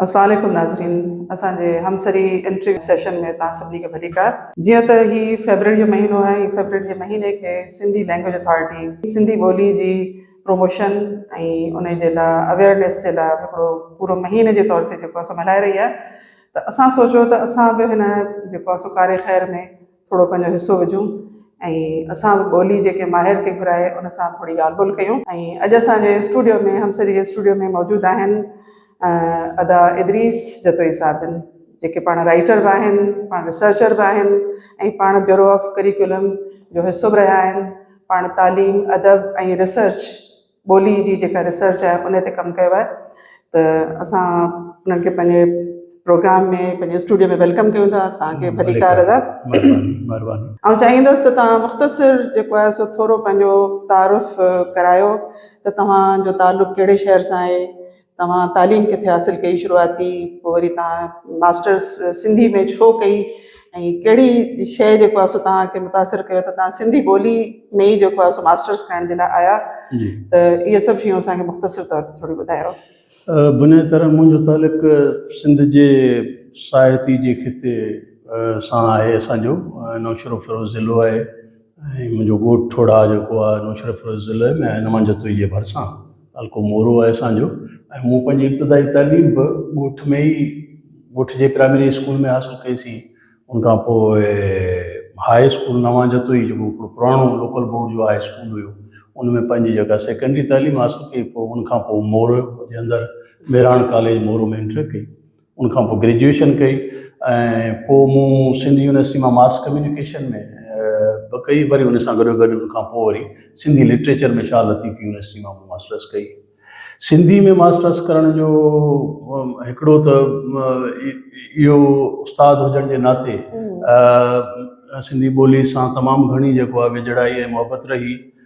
اسلام عليڪم ناظرين اسان جي همسري انٽري سيشن ۾ تان سڀني کي ڀليڪار جيئن ته هي فيبرري جو مهينو آهي فيبرري جي مهيني کي سنڌي لينگويج اٿارٽي سنڌي ٻولي جي پروموشن ۽ ان جي لاء اويئرنيس جي لاء هڪڙو پورو مهيني جي طور تي جيڪو اسان ملهائي رهي آهي ته اسان سوچيو ته اسان به هن جيڪو اسان ڪاري خير ۾ ٿورو پنهنجو حصو وجهون ۽ اسان به ٻولي جي ڪنهن ماهر کي گهرائي ان سان ٿوري ڳالهه ٻولهه ڪيون ۽ اڄ اسان جي اسٽوڊيو ۾ همسري جي اسٽوڊيو ۾ موجود آهن ادا ادريس جتوئي صاحبن جيڪي پاڻ رائيٽر به آهن پاڻ ريسرچر به آهن ۽ پاڻ بيورو آف ڪريڪولم جو حصو به رهيا آهن پاڻ تعليم ادب ۽ ريسرچ ٻولي جي جيڪا ريسرچ آهي ان تي ڪم ڪيو آهي ته اسان انهن کي پنهنجي پروگرام ۾ پنهنجي اسٽوڊيو ۾ ويلڪم ڪيون ٿا تهان کي ڀليڪار ادا آئون چاهيندس ته تهان مختصر جيڪو آهي سو ٿورو پنهنجو تعارف ڪرايو ته توهان جو تعلق ڪهڙي شهر سان آهي توهان تعليم ڪٿي حاصل ڪئي شروعاتي پوء وري توهان ماسٽرس سنڌي ۾ ڇو ڪئي ۽ ڪهڙي شيء جيڪو آهي سو توهان کي متاثر ڪيو ته توهان سنڌي ٻولي ۾ ئي جيڪو آهي سو ماسٽرس ڪرڻ جي لاء آيا ته اهي سڀ شيون اسان کي مختصر طور تي ٿوري ٻڌايو. بنيادي طرح منهنجو تعلق سنڌ جي ساهتي جي خطي سان آهي اسان جو نوشهروفيروز ضلعو آهي ۽ منهنجو ڳوٺ ٺوڙها جيڪو آهي نوشهرفيروز ضلعي ۾ آهي نمان جتوئي جي ڀرسان تعلقو مورو آهي اسان جو ۽ مون پنهنجي ابتدائي تعليم به ڳوٺ ۾ ئي ڳوٺ جي پرائمري اسڪول ۾ حاصل ڪئي سي ان کان پوء هاء اسڪول نوان جتوئي جيڪو هڪڙو پراڻو لوڪل بورڊ جو هاء اسڪول هيو ان ۾ پنهنجي جيڪا سيڪنڊري تعليم حاصل ڪئي پوء ان کان پوء مورو جي اندر ميراڻ ڪاليج مورو ۾ انٽر ڪئي ان کان پوء گريجوئيشن ڪئي ۽ پوء مون سنڌ يونيورسٽي مان ماس ڪميونيڪيشن ۾ به ڪئي وري ان سان گڏو گڏ ان کان پوء وري سنڌي لٽريچر ۾ شاهه لطيف يونيورسٽي مان مون ماسٽرس ڪئي سنڌي ۾ ماسٽرس ڪرڻ جو هڪڙو ته اهو استاد هجڻ جي ناتي سنڌي ٻولي سان تمام گهڻي جيڪو آهي ويجهڙائي ۽ محبت رهي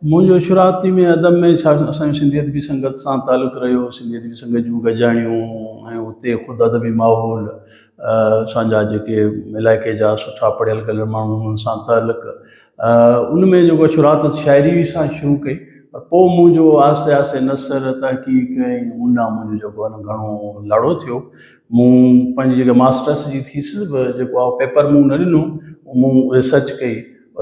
منهنجو شروعاتي ۾ ادب ۾ ڇا اسان جي سنڌي ادبي سنگت سان تعلق رهيو، سنڌي ادبي سنگت جون گڏجاڻيون ۽ اتي خود ادبي ماحول اسان جا جيڪي علائقي جا سٺا پڙهيل ڳڙهيل ماڻهو هئا انهن سان تعلق ان ۾ جيڪو آهي شروعات شاعري سان شروع ڪئي پر پوء منهنجو آهستي آهستي نثر تحقيق ۽ ان ڏانهن منهنجو جيڪو آهي گهڻو لاڙو ٿيو مون پنهنجي جيڪا ماسٽرس جي ٿيسز به جيڪو آهي پيپر مون نه ڏنو مون ريسرچ ڪئي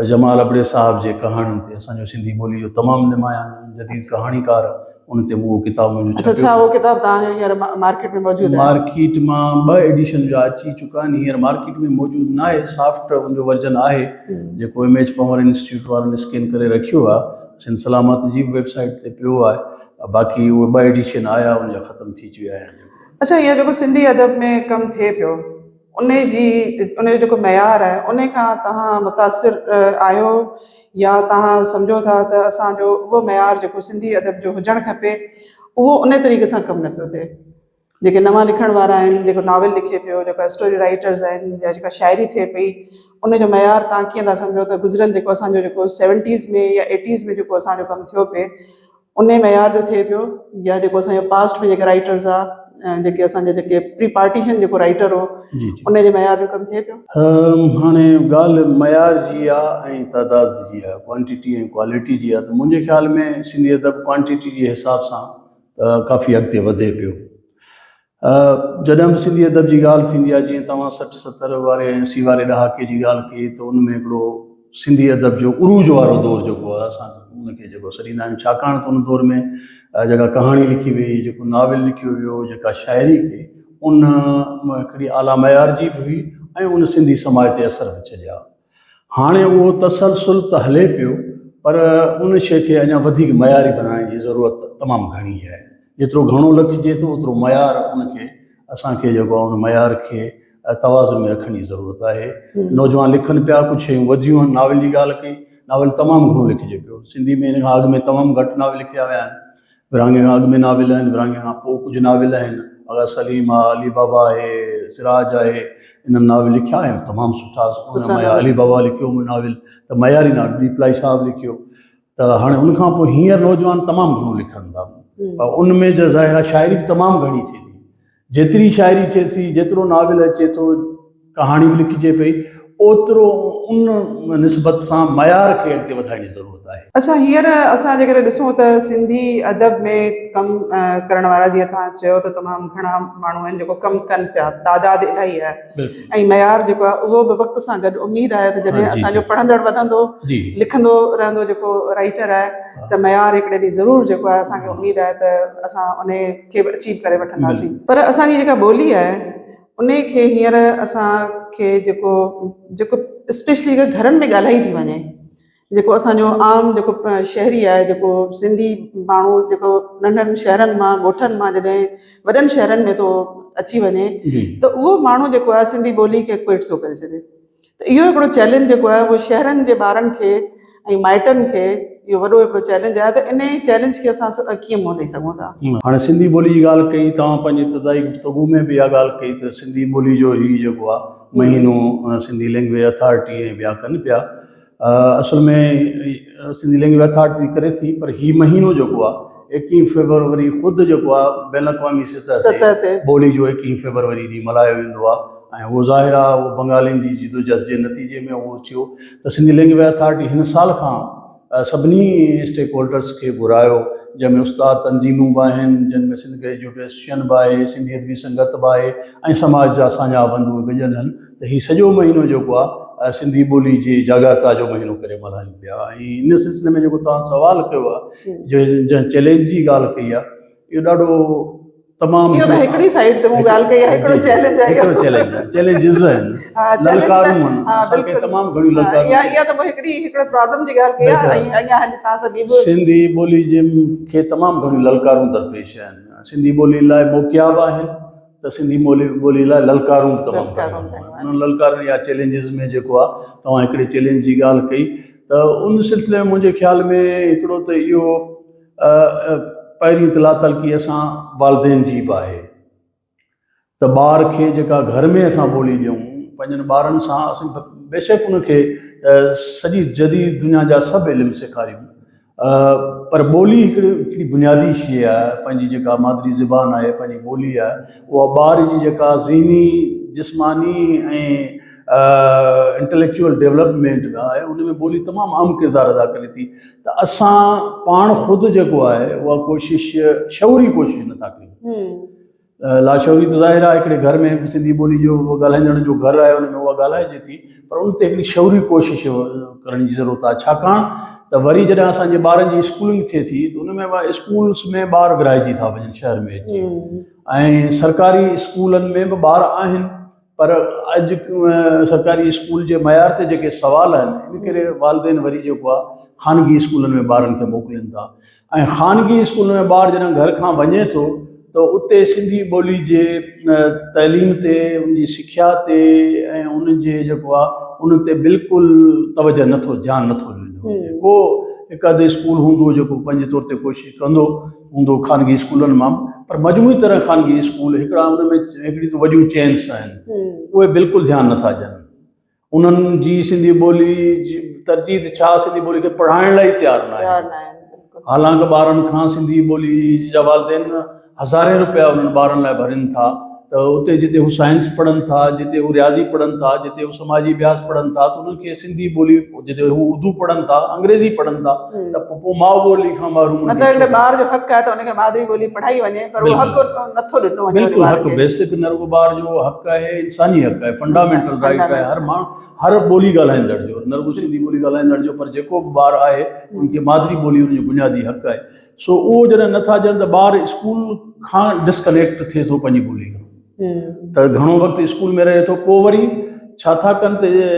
جمال ابڙي صاحب جي ڪهاڻين تي اسان جو سنڌي ٻولي جو تمام نمايان جديد ڪهاڻيڪار ان تي اهو ڪتاب منهنجو اچا ڇا اهو ڪتاب توهان جو هينئر مارڪيٽ ۾ موجود آهي؟ مارڪيٽ مان ٻه ايڊيشن جا اچي چڪا آهن هينئر مارڪيٽ ۾ موجود ناهي سافٽ ان جو ورجن آهي جيڪو ايم ايڇ پنور انسٽيٽيوٽ وارن اسڪين ڪري رکيو آهي سنڌ سلامت جي به ويب سائيٽ تي پيو آهي باقي اهي ٻه ايڊيشن آيا ان جا ختم ٿي چيا آهن. اچا هينئر جيڪو سنڌي ادب ۾ ڪم ٿئي پيو. ان جي ان جو جيڪو معيار آهي ان کان توهان متاثر آهيو يا توهان سمجهو ٿا ته اسانجو اهو معيار جيڪو سنڌي ادب جو هجڻ کپي اهو ان طريقي سان ڪم نه پيو ٿئي جيڪي نوان لکڻ وارا آهن جيڪو ناول لکي پيو جيڪو اسٽوري رائيٽرز آهن يا جيڪا شاعري ٿئي پئي ان جو معيار توهان ڪيئن ٿا سمجهو ته گذريل جيڪو اسانجو جيڪو سيونٽيز ۾ يا ايٽيز ۾ جيڪو اسانجو ڪم ٿيو پئي انهي معيار جو ٿئي پيو يا جيڪو اسان جو پاسٽ ۾ جيڪي رائيٽرز آ جيڪي اسان جا جيڪي پري پارٽيشن جيڪو رائيٽر هو انهي جي معيار جو ڪم ٿئي پيو. هاڻي ڳالهه معيار جي آ ۽ تعداد جي آ ڪوانٽيٽي ۽ ڪواليٽي جي آ ته منهنجي خيال ۾ سنڌي ادب ڪوانٽيٽي جي حساب سان ته ڪافي اڳتي وڌي پيو ها جڏهن به سنڌي ادب جي ڳالهه ٿيندي آهي جيئن توهان سٺ ستر واري ۽ اسي واري ڏهاڪي جي ڳالهه ڪئي ته ان ۾ هڪڙو سنڌي ادب جو عروج وارو دور جيڪو آهي اسان ان کي جيڪو سڏيندا آهيون ڇاڪاڻ ته ان دور ۾ جيڪا ڪهاڻي لکي وئي جيڪو ناول لکيو ويو جيڪا شاعري ڪئي ان ۾ هڪڙي اعليٰ معيار جي به هئي ۽ ان سنڌي سماج تي اثر به ڇڏيا هاڻي اهو تسلسل ته هلي پيو پر ان شيء کي اڃا وڌيڪ معياري بنائڻ جي ضرورت تمام گهڻي آهي. جيترو گهڻو لکجي ٿو اوترو معيار ان کي اسان کي جيڪو آهي ان معيار کي توازن ۾ رکڻ جي ضرورت آهي. نوجوان لکن پيا ڪجهه شيون وڌيون آهن ناول جي ڳالهه ڪئي ناول تمام گهڻو لکجي پيو سنڌي ۾ ان کان اڳ ۾ تمام گهٽ ناول لکيا ويا آهن. ورهاڱي کان اڳ ۾ ناول آهن، ورهاڱي کان پوء ڪجهه ناول آهن، آغا سليم آهي، علي بابا آهي، سراج آهي، انهن ناول لکيا آهن، تمام سٺا، سٺا ناول. علي بابا لکيو هو ناول ته معياري ناول ٻي پلائي صاحب لکيو ته هاڻي ان کان پوء هينئر نوجوان تمام گهڻو لکن ٿا ۽ ان ۾ ظاهر آهي شاعري به تمام گهڻي ٿئي ٿي. جيتري شاعري ٿئي ٿي، جيترو ناول اچي ٿو، ڪهاڻي به لکجي پئي، اوترو ان نسبت سان معيار کي اڳتي وڌائڻ جي ضرورت آهي. اڇا هينئر اسان جيڪڏهن ڏسون ته سنڌي ادب ۾ ڪم ڪرڻ وارا جيئن توهان چيو ته تمام گهڻا ماڻهو آهن جيڪو ڪم ڪن پيا، تعداد الاهي آهي ۽ معيار جيڪو آهي اهو به وقت سان گڏ اميد آهي ته جڏهن اسان جو پڙهندڙ وڌندو، لکندو رهندو جيڪو رائيٽر آهي ته معيار هڪڙي ڏينهن ضرور جيڪو آهي اسان کي اميد آهي ته اسان انهي کي به اچيو ڪري وٺنداسين پر اسان جي جيڪا ٻولي آهي انهي کي هينئر اسان کي جيڪو جيڪو اسپيشلي جيڪا گهرن ۾ ڳالهائي ٿي وڃي جيڪو اسان جو عام جيڪو شهري آهي جيڪو سنڌي ماڻهو جيڪو ننڍن شهرن مان ڳوٺن مان جڏهن وڏن شهرن ۾ ٿو اچي وڃي ته اهو ماڻهو جيڪو آهي سنڌي ٻولي کي ڪوئٽ ٿو ڪري ڇڏي ته اهو هڪڙو چئلينج جيڪو آهي اهو شهرن جي ٻارن کي ۽ مائٽن کي اهو وڏو هڪڙو چئلينج آهي ته انهي چئلينج کي اسان ڪيئن منهن ڏئي سگهون ٿا. هاڻي سنڌي ٻولي جي ڳالهه ڪئي توهان پنهنجي ابتدائي گفتگو ۾ به اها ڳالهه ڪئي ته سنڌي ٻولي جو هي جيڪو آهي مهينو سنڌي لينگويج اٿارٽي ۽ ٻيا ڪن پيا اصل ۾ سنڌي لينگويج اٿارٽي ڪري ٿي پر هي مهينو جيڪو آهي ايڪيهن فيبروري خود جيڪو آهي بين الاقوامي سطح تي ٻولي جو ايڪيهن فيبروري ڏينهن ملهايو ويندو آهي ۽ اهو ظاهر آهي اهو بنگالين جي جدوجهد جي نتيجي ۾ اهو ٿيو ته سنڌي لينگويج اٿارٽي هن سال کان سڀني اسٽيڪ هولڊرز کي گهرايو جنهن ۾ استاد تنظيمون به آهن جن ۾ سنڌ گريجوئيٽ ايسوسيئن به آهي سنڌي ادبي سنگت به آهي ۽ سماج جا ساڃاهه بنڌو گڏيل آهن ته هي سڄو مهينو جيڪو آ سنڌي ٻولي جي جاڳائتا جو مهينو ڪري ملهايون پيا ۽ ان سلسلي ۾ جيڪو توهان سوال ڪيو آ جو جنهن چئلينج جي ڳالهه ڪئي آ اهو ڏاڍو تمام اهو ته هڪڙي سائيڊ تي مون ڳالهه ڪئي آ هڪڙو چئلينج آ اهو هڪڙو چئلينج آ چئلينجز آهن للڪارون آهن اسان کي تمام گهڻيون للڪارون آهن اها ته مون هڪڙي هڪڙو پرابلم جي ڳالهه ڪئي آ ۽ اڃا هلي توهان سان ٻي به سنڌي ٻولي جي کي تمام گهڻيون للڪارون درپيش آهن سنڌي ٻولي لاء موڪيا به آهن ته سنڌي ٻولي لاء للڪارون به تمام گهڻيون آهن. انهن للڪارن يا چئلينجز ۾ جيڪو آهي توهان هڪڙي چئلينج جي ڳالهه ڪئي ته ان سلسلي ۾ منهنجي خيال ۾ هڪڙو ته اهو پهرين اطلاع تلقي اسان والدين جي به آهي ته ٻار کي جيڪا گهر ۾ اسان ٻولي ڏيون پنهنجن ٻارن سان اسان بيشڪ ان کي سڄي جديد دنيا جا سڀ علم سيکاريون پر ٻولي هڪڙي بنيادي شيء آ پنهنجي جيڪا مادري زبان آهي پنهنجي ٻولي آ اها ٻار جي جيڪا ذهني جسماني ۽ انٽليڪچوئل ڊيولپمينٽ ۾ آهي ان ۾ ٻولي تمام اهم ڪردار ادا ڪري ٿي ته اسان پاڻ خود جيڪو آهي اها ڪوشش شعوري ڪوشش نٿا ڪريون لاشعوري ته ظاهر آهي هڪڙي گهر ۾ به سنڌي ٻولي جو ڳالهائيندڙن جو گهر آهي ان ۾ اها ڳالهائجي ٿي پر ان تي هڪڙي شعوري ڪوشش ڪرڻ جي ضرورت آهي ڇاڪاڻ ته وري جڏهن اسانجي ٻارن جي اسڪولنگ ٿئي ٿي ته ان ۾ اسڪولس ۾ ٻار ورهائجي ٿا وڃن شهر ۾ اچي ۽ سرڪاري اسڪولن ۾ به ٻار آهن پر اڄ سرڪاري اسڪول جي معيار تي جيڪي سوال آهن ان ڪري والدين وري جيڪو آهي خانگي اسڪولن ۾ ٻارن کي موڪلين ٿا ۽ خانگي اسڪول ۾ ٻار جڏهن گهر کان وڃي ٿو ته اتي سنڌي ٻولي جي تعليم تي ان جي سکيا تي ۽ ان جي جيڪو آهي ان تي بلڪل توجه نٿو ڌيان نٿو ڏنو وڃي ڪو هڪ اڌ اسڪول هوندو جيڪو پنهنجي طور تي ڪوشش ڪندو هوندو خانگي اسڪولن مان پر مجموعي طرح خانگي اسڪول هڪڙا ان ۾ هڪڙي ته وڏيون چينس آهن اهي بلڪل ڌيان نٿا ڏين انهن جي سنڌي ٻولي جي ترجيح ته ڇا سنڌي ٻولي کي پڙهائڻ لاء ئي تيار نه آهن حالانڪه ٻارن کان سنڌي ٻولي جا والدين هزارين روپيا انهن ٻارن لاء ڀرين ٿا ته اتي جتي هو سائنس پڙهن ٿا، جتي هو رياضي پڙهن ٿا، جتي هو سماجي اڀياس پڙهن ٿا ته انهن کي سنڌي ٻولي جتي هو اردو پڙهن ٿا، انگريزي پڙهن ٿا ته پوء ماء ٻولي کان محروم انهن کي ڇو ڪرڻو. مطلب ان ٻار جو حق آهي ته ان کي مادري ٻولي پڙهائي وڃي پر اهو حق نٿو ڏنو وڃي ان ٻار کي. بيسڪ نه رڳو ٻار جو حق آهي انساني حق آهي فنڊامينٽل رائيٽ آهي هر ماڻهو هر ٻولي ڳالهائيندڙ جو نه رڳو سنڌي ٻولي ڳالهائيندڙ جو پر جيڪو به ٻار آهي ان کي مادري ٻولي ان جو بنيادي حق آهي. سو اهو جڏهن نه ٿا ڏين ته ٻار اسڪول کان ڊس ڪنيڪٽ ٿئي ٿو پنهنجي ٻولي کان ته گهڻو وقت اسڪول ۾ رهي ٿو پوء وري ڇا ٿا ڪن ته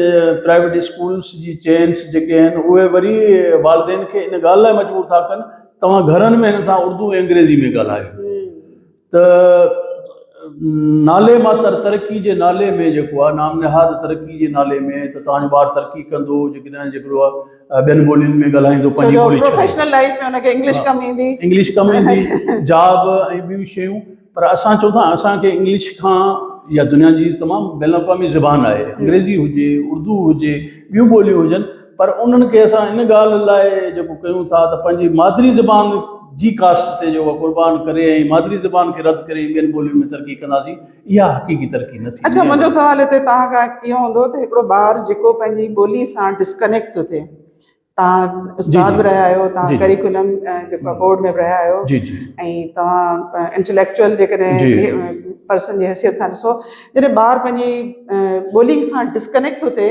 پرائيويٽ اسڪولس جي چينس جيڪي آهن اهي وري والدين کي ان ڳالهه لاء مجبور ٿا ڪن توهان گهرن ۾ هن سان اردو ۽ انگريزي ۾ ڳالهايو ته نالي مان تر ترقي جي نالي ۾ جيڪو آ نام نهاد ترقي جي نالي ۾ ته تهان جو ٻار ترقي ڪندو جيڪڏهن جيڪڙو آ ٻين ٻولين ۾ ڳالهائيندو پنهنجي ٻولي ڇڏي پروفيشنل لائيف ۾ ان کي انگلش ڪم ايندي انگلش ڪم ايندي جاب ۽ ٻيون شيون پر اسان چون ٿا اسان کي انگلش کان يا دنيا جي تمام بين الاقوامي زبان آهي انگريزي هجي اردو هجي ٻيون ٻوليون هجن پر انهن کي اسان ان ڳالهه لاء جيڪو ڪيون ٿا ته پنهنجي مادري زبان جي ڪاسٽ تي جو اها قربان ڪري ۽ مادري زبان کي رد ڪري ٻين ٻولين ۾ ترقي ڪنداسين اها حقيقي ترقي نه ٿيندي. اڇا منهنجو سوال هتي توهان کان اهو هوندو ته هڪڙو ٻار جيڪو پنهنجي ٻولي سان ڊسڪنيڪٽ ٿو ٿئي توهان استاد به رهيا آهيو توهان ڪريڪولم جيڪو آهي بورڊ ۾ به رهيا آهيو ۽ توهان انٽليڪچوئل جيڪڏهن پرسن جي حيثيت سان ڏسو جڏهن ٻار پنهنجي ٻولي سان ڊسڪنيڪٽ ٿو ٿئي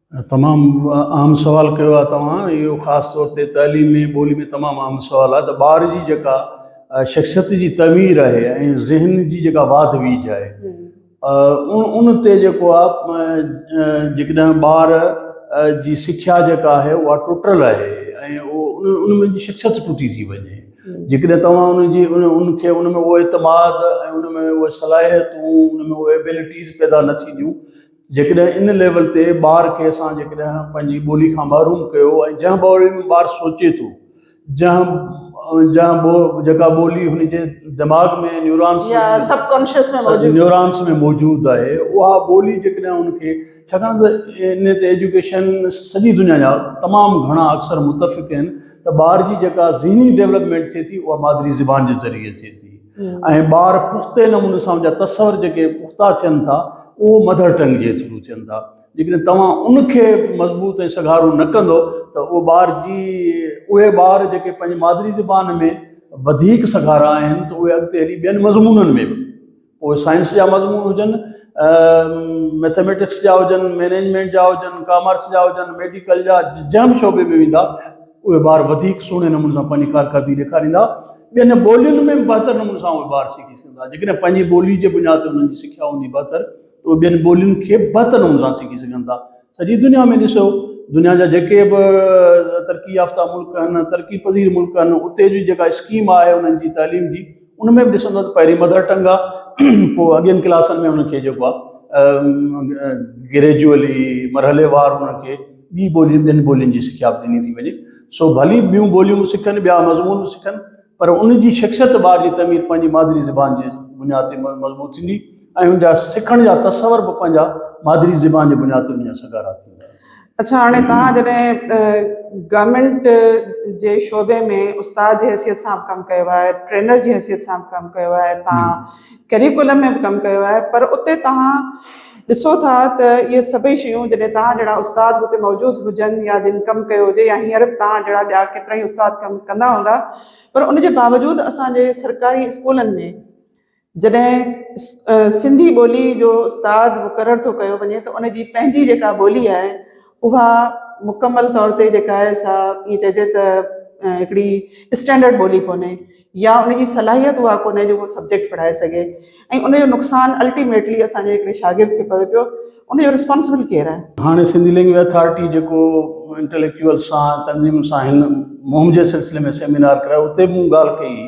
تمام اهم سوال ڪيو آهي توهان اهو خاص طور تي تعليم ۾ ٻولي ۾ تمام اهم سوال آهي ته ٻار جي جيڪا شخصيت جي تعمير آهي ۽ ذهن جي جيڪا واڌ ويجھ آهي ان تي جيڪو آهي جيڪڏهن ٻار جي سکيا جيڪا آهي اها ٽٽل آهي ۽ ان ۾ جي شخصيت ٽٽي ٿي وڃي جيڪڏهن توهان ان جي ان کي ان ۾ اهو اعتماد ۽ ان ۾ اهي صلاحيتون ان ۾ اهي ايبلٽيز پيدا نه ٿينديون جيڪڏهن ان ليول تي ٻار کي اسان جيڪڏهن پنهنجي ٻولي کان محروم ڪيو ۽ جنهن ٻولي ۾ ٻار سوچي ٿو جنهن جنهن ٻو جيڪا ٻولي هن جي دماغ ۾ نيورانس يا ۾ سب ڪانشس ۾ موجود نيورانس ۾ موجود آهي اها ٻولي جيڪڏهن ان کي ڇاڪاڻ ته ان تي ايجوڪيشن سڄي دنيا جا تمام گهڻا اڪثر متفق آهن ته ٻار جي جيڪا ذهني ڊيولپمينٽ ٿئي ٿي اها مادري زبان جي ذريعي ٿئي ٿي ۽ ٻار پختي نموني سان ان جا تصور جيڪي پختا ٿين ٿا اهو مڌر ٽنگ جي ٿرو ٿين ٿا جيڪڏهن توهان ان کي مضبوط ۽ سگهارو نه ڪندو ته اهو ٻار جي اهي ٻار جيڪي پنهنجي مادري زبان ۾ وڌيڪ سگهارا آهن ته اهي اڳتي هلي ٻين مضمونن ۾ به پوء سائنس جا مضمون هجن ميٿميٽڪس جا هجن مينيجمينٽ جا هجن ڪامرس جا هجن ميڊيڪل جا جنهن به شعبي ۾ ويندا اهي ٻار وڌيڪ سهڻي نموني سان پنهنجي ڪارڪردگي ڏيکاريندا، ٻين ٻولين ۾ به بهتر نموني سان اهي ٻار سکي سگهندا، جيڪڏهن پنهنجي ٻولي جي بنياد تي انهن جي سکيا هوندي بهتر ته اهي ٻين ٻولين کي به بهتر نموني سان سکي سگهن ٿا. سڄي دنيا ۾ ڏسو دنيا جا جيڪي به ترقي يافته ملڪ آهن ترقي پذير ملڪ آهن اتي جي جيڪا اسڪيم آهي انهن جي تعليم جي ان ۾ به ڏسندو ته پهرين مدر ٽنگ آ پوء اڳين ڪلاسن ۾ ان کي جيڪو آ گريجوئلي مرحلي وار انهن کي ٻي ٻولين ٻين ٻولين جي سکيا به ڏني ٿي وڃي سو ڀلي ٻيون ٻوليون به سکن ٻيا مضمون به سکن پر ان جي شخصيت ٻار جي تعمير پنهنجي مادري زبان جي بنياد تي مضبوط ٿيندي ۽ ان جا سکڻ جا تصور به پنهنجا مادري زبان جي بنياد تي ان جا سگهارا ٿيندا. اڇا هاڻي توهان جڏهن گورنمينٽ جي شعبي ۾ استاد جي حيثيت سان به ڪم ڪيو آهي ٽرينر جي حيثيت سان به ڪم ڪيو آهي توهان ڪريڪولم ۾ به ڪم ڪيو آهي پر اتي توهان ڏسو ٿا ته اهي سڀئي شيون جڏهن توهان جهڙا استاد به اتي موجود هجن يا جن ڪم ڪيو هجي يا هينئر به توهان جهڙا ٻيا ڪيترا ئي استاد ڪم ڪندا هوندا پر ان جي باوجود اسان جي سرڪاري اسڪولن ۾ جڏهن سنڌي ٻولي جو استاد مقرر ٿو ڪيو وڃي ته ان جي پنهنجي جيڪا ٻولي آهي اها مڪمل طور تي جيڪا آهي سا ائين چئجي ته هڪڙي اسٽينڊرڊ ٻولي ڪونهي يا ان جي صلاحيت اها ڪونهي جو هو سبجيڪٽ پڙهائي سگهي ۽ ان جو نقصان الٽيميٽلي اسان جي هڪڙي شاگرد کي پوي پيو ان جو رسپانسبل ڪير آهي؟ هاڻي سنڌي لينگويج اٿارٽي جيڪو انٽليڪچوئلس سان تنظيمن سان هن مهم جي سلسلي ۾ سيمينار ڪرايو اتي به مون ڳالهه ڪئي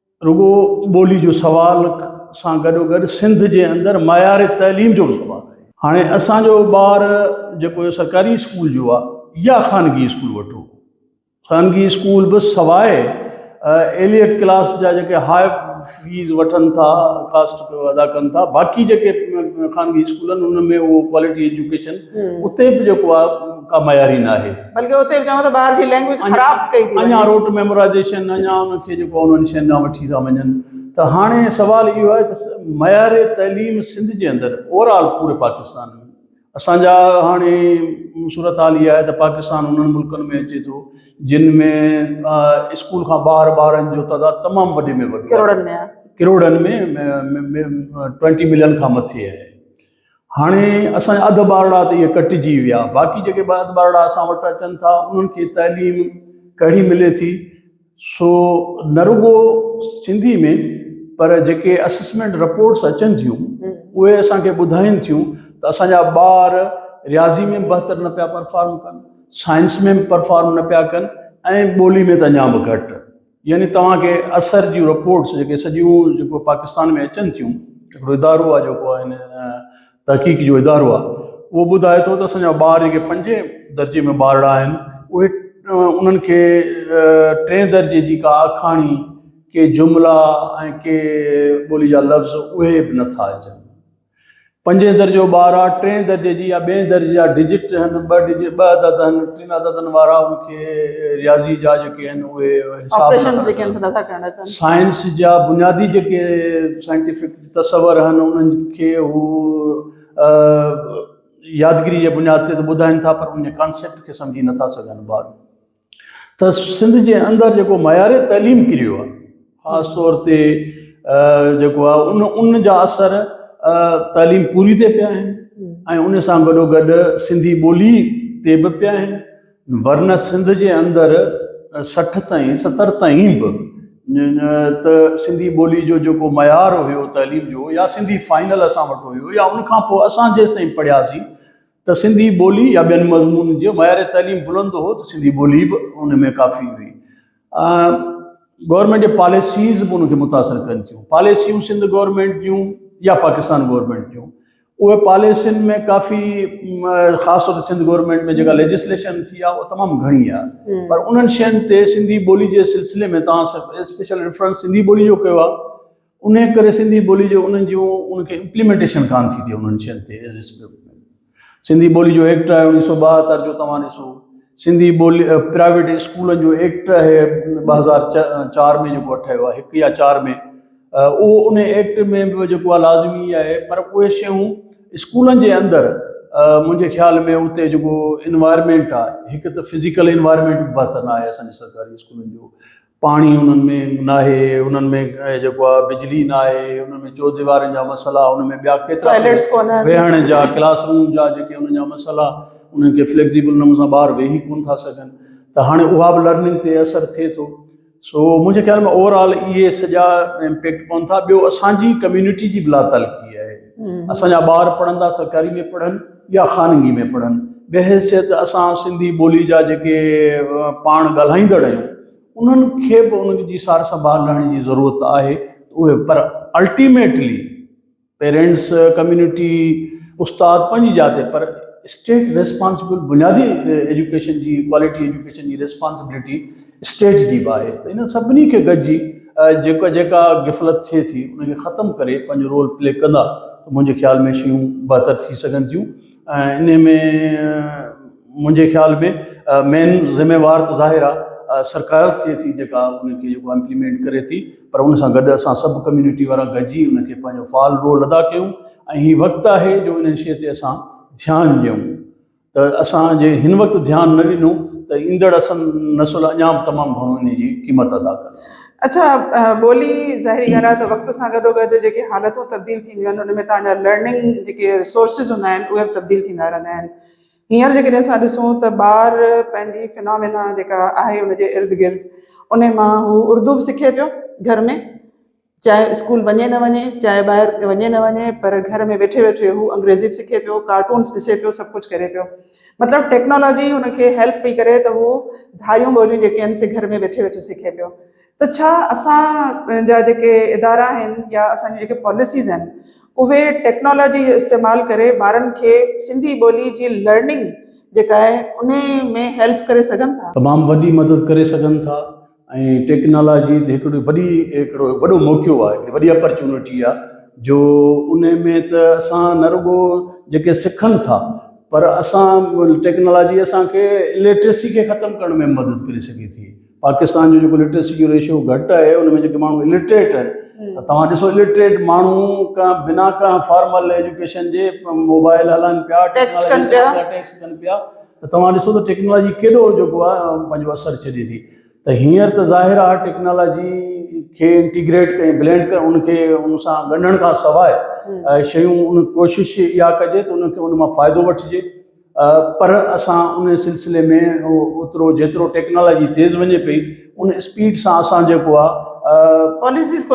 رڳو ٻولي جو سوال سان گڏو گڏ سنڌ جي اندر معيار تعليم جو به سوال آهي. هاڻي اسان جو ٻار جيڪو سرڪاري اسڪول جو آهي يا خانگي اسڪول وٺو، خانگي اسڪول به سواء ايليٽ ڪلاس جا جيڪي هاء فيس وٺن ٿا، ڪاسٽ پيو ادا ڪن ٿا، باقي جيڪي خانگي اسڪول آهن ان ۾ اهو ڪوالٽي ايجوڪيشن اتي به جيڪو آهي ڪا معياري ناهي. بلڪه اتي به چون ته ٻار جي لينگويج خراب ڪئي ٿي اڃا روٽ ميمورائيزيشن اڃا انهن کي جيڪو انهن شين ڏانهن وٺي ٿا وڃن ته هاڻي سوال اهو آهي ته معيار تعليم سنڌ جي اندر اوور آل پوري پاڪستان ۾ اسان جا هاڻي صورت حال اها آهي ته پاڪستان انهن ملڪن ۾ اچي ٿو جن ۾ اسڪول کان ٻاهر ٻارن جو تعداد تمام وڏي ۾ وڏو ڪروڙن ۾ ڪروڙن ۾ ٽوئنٽي ملين کان مٿي آهي هاڻي اسان جا اڌ ٻارڙا ته اهي ڪٽجي ويا، باقي جيڪي ٻه اڌ ٻارڙا اسان وٽ اچن ٿا، انهن کي تعليم ڪهڙي ملي ٿي؟ سو نه رڳو سنڌي ۾ پر جيڪي اسسمينٽ رپورٽس اچن ٿيون، اهي اسان کي ٻڌائين ٿيون ته اسان جا ٻار رياضي ۾ به بهتر نه پيا پرفارم ڪن، سائنس ۾ به پرفارم نه پيا ڪن ۽ ٻولي ۾ ته اڃا به گهٽ. يعني توهان کي اثر جون رپورٽس جيڪي سڄيون جيڪو پاڪستان ۾ اچن ٿيون هڪڙو ادارو آهي جيڪو آهي نه تحقيق جو ادارو آهي اهو ٻڌائي ٿو ته اسان جا ٻار جيڪي پنجين درجي ۾ ٻارڙا آهن اهي انهن کي ٽئين درجي جي ڪا آکاڻي ڪي جملا ۽ ڪي ٻولي جا لفظ اهي به نٿا اچن. پنجين درجو ٻار آ ٽين درجي جي يا ٻين درجي جا ڊجٽ هن ٻه ڊجٽ ٻه عدد هن ٽن عددن وارا ان کي رياضي جا جيڪي هن اهي حساب آپريشنز جيڪي هن سي نٿا ڪرڻ اچن. سائنس جا بنيادي جيڪي سائنٽيفڪ تصور هن انهن کي هو يادگيري جي بنياد تي ته ٻڌائين ٿا پر ان جي ڪانسيپٽ کي سمجهي نٿا سگهن ٻار. ته سنڌ جي اندر جيڪو معيار تعليم ڪريو آهي خاص طور تي جيڪو آهي ان ان جا اثر تعليم پوري تي پيا آهن ۽ ان سان گڏو گڏ سنڌي ٻولي تي به پيا آهن ورنه سنڌ جي اندر سٺ تائين ستر تائين به ته سنڌي ٻولي جو جيڪو معيار هيو تعليم جو يا سنڌي فائنل اسان وٽ هيو يا ان کان پوء اسان جيسين پڙهياسين ته سنڌي ٻولي يا ٻين مضمونن جو معيار تعليم بلند هو ته سنڌي ٻولي به ان ۾ ڪافي هئي. گورنمينٽ جي پاليسيز به ان کي متاثر ڪن ٿيون. پاليسيون سنڌ گورنمينٽ جون يا پاڪستان گورنمينٽ جون اهي پاليسين ۾ ڪافي خاص طور تي سنڌ گورنمينٽ ۾ جيڪا ليجسليشن ٿي آهي اها تمام گهڻي آهي پر انهن شين تي سنڌي ٻولي جي سلسلي ۾ توهان اسپيشل ريفرنس سنڌي ٻولي جو ڪيو آهي انهيء ڪري سنڌي ٻوليء جو انهن جون ان کي امپليمينٽيشن ڪانه ٿي ٿئي انهن شين تي ايز اي اسڪرپٽ ۾ سنڌي ٻوليء جو ايڪٽ آهي اوڻيهه سؤ ٻاهتر جو توهان ڏسو سنڌي ٻولي پرائيويٽ اسڪولن جو ايڪٽ آهي ٻه هزار چار ۾ جيڪو ٺهيو آهي هڪ يا چار ۾ اهو ان ايڪٽ ۾ به جيڪو آهي لازمي آهي پر اهي شيون اسڪولن جي اندر منهنجي خيال ۾ اتي جيڪو انوائرمينٽ آهي هڪ ته فزيڪل انوائرمينٽ بهتر ناهي اسان جي سرڪاري اسڪولن جو پاڻي انهن ۾ ناهي، انهن ۾ جيڪو آهي بجلي ناهي، انهن ۾ چوديوارين جا مسئلا، انهن ۾ ٻيا ڪيترا ٽوائليٽس ڪونه آهن. ويهڻ جا، ڪلاس روم جا جيڪي انهن جا مسئلا، انهن کي فليڪسيبل نموني سان ٻار ويهي ڪونه ٿا سگهن ته هاڻي اها به لرننگ تي اثر ٿئي ٿو. سو منهنجي خيال ۾ اوور آل اهي سڄا امپيڪٽ پون ٿا. ٻيو اسان جي ڪميونٽي جي به لاتعلقي آهي. اسان جا ٻار پڙهندا سرڪاري ۾ پڙهن. يا خانگي ۾ پڙهن. بحيثيت اسان سنڌي ٻولي جا جيڪي پاڻ ڳالهائيندڙ آهيون انهن کي به ان جي سار سنڀال لهڻ جي ضرورت آهي اهي پر الٽيميٽلي پيرينٽس ڪميونٽي استاد پنهنجي جاء تي پر اسٽيٽ ريسپانسبل بنيادي ايجوڪيشن جي ڪوالٽي ايجوڪيشن جي ريسپانسبلٽي اسٽيج جي باهه ته انهن سڀني کي گڏجي جيڪا جيڪا غفلت ٿئي ٿي ان کي ختم ڪري پنهنجو رول پلي ڪندا ته منهنجي خيال ۾ شيون بهتر ٿي سگهن ٿيون ۽ انهي ۾ منهنجي خيال ۾ مين ذميوار ته ظاهر آ سرڪار ٿئي ٿي جيڪا ان کي جيڪو امپليمينٽ ڪري ٿي پر ان سان گڏ اسان سڀ ڪميونٽي وارا گڏجي ان کي پنهنجو فعال رول ادا ڪيون ۽ هي وقت آهي جو انهن شي تي اسان ڌيان ڏيون ته اسان جي هن وقت ڌيان نه ڏنو ته ايندڙ اسن نسل اڃا به تمام گهڻو انهي جي قيمت ادا ڪندي. اڇا ٻولي ظاهري ڳالهه آهي ته وقت سان گڏو گڏ جيڪي حالتون تبديل ٿينديون آهن ان ۾ تهان جا لرننگ جيڪي ريسورسز هوندا آهن اهي به تبديل ٿيندا رهندا آهن هينئر جيڪڏهن اسان ڏسون ته ٻار پنهنجي فنامينا جيڪا آهي ان جي ارد گرد انهي مان هو اردو به سکي پيو گهر ۾ چاهي اسڪول وڃي نه وڃي، چاهي ٻاهر وڃي نه وڃي پر گهر ۾ ويٺي ويٺي هو انگريزي به سکي پيو، ڪارٽونس ڏسي پيو، سڀ ڪجهه ڪري پيو. مطلب ٽيڪنالاجي هن کي هيلپ پئي ڪري ته هو ڌاريون ٻوليون جيڪي آهن سي گهر ۾ ويٺي ويٺي سکي پيو. ته ڇا اسان جا جيڪي ادارا آهن يا اسان جون جيڪي پاليسيز آهن اهي ٽيڪنالاجي جو استعمال ڪري ٻارن کي سنڌي ٻولي جي لرننگ جيڪا آهي انهي ۾ هيلپ ڪري سگهن ٿا؟ تمام وڏي مدد ڪري سگهن ٿا. ۽ ٽيڪنالاجي تي هڪڙو وڏي هڪڙو وڏو موقعو آهي هڪڙي وڏي اپرچونٽي آهي جو ان ۾ ته اسان نه رڳو جيڪي سکن ٿا پر اسان ٽيڪنالاجي اسانکي اليٽريسي کي ختم ڪرڻ ۾ مدد ڪري سگهي ٿي پاڪستان جو جيڪو ليٽريسي جو ريشو گهٽ آهي ان ۾ جيڪي ماڻهو اليٽريٽ آهن ته توهان ڏسو اليٽريٽ ماڻهو ڪا بنا ڪا فارمل ايجوڪيشن جي موبائل هلائن پيا ٽيڪسٽ ڪن پيا ته توهان ڏسو ته ٽيڪنالاجي ڪيڏو جيڪو آهي پنهنجو اثر ڇڏي ٿي ته هينئر ته ظاهر آهي ٽيڪنالاجي کي انٽيگريٽ ڪري بلينڊ ڪري ان کي ان سان ڳنڍڻ کان سواء شيون ان ڪوشش اها ڪجي ته ان کي ان مان فائدو وٺجي پر اسان ان سلسلي ۾ اوترو جيترو ٽيڪنالاجي تيز وڃي پئي ان اسپيڊ سان اسان جيڪو آهي پاليسيز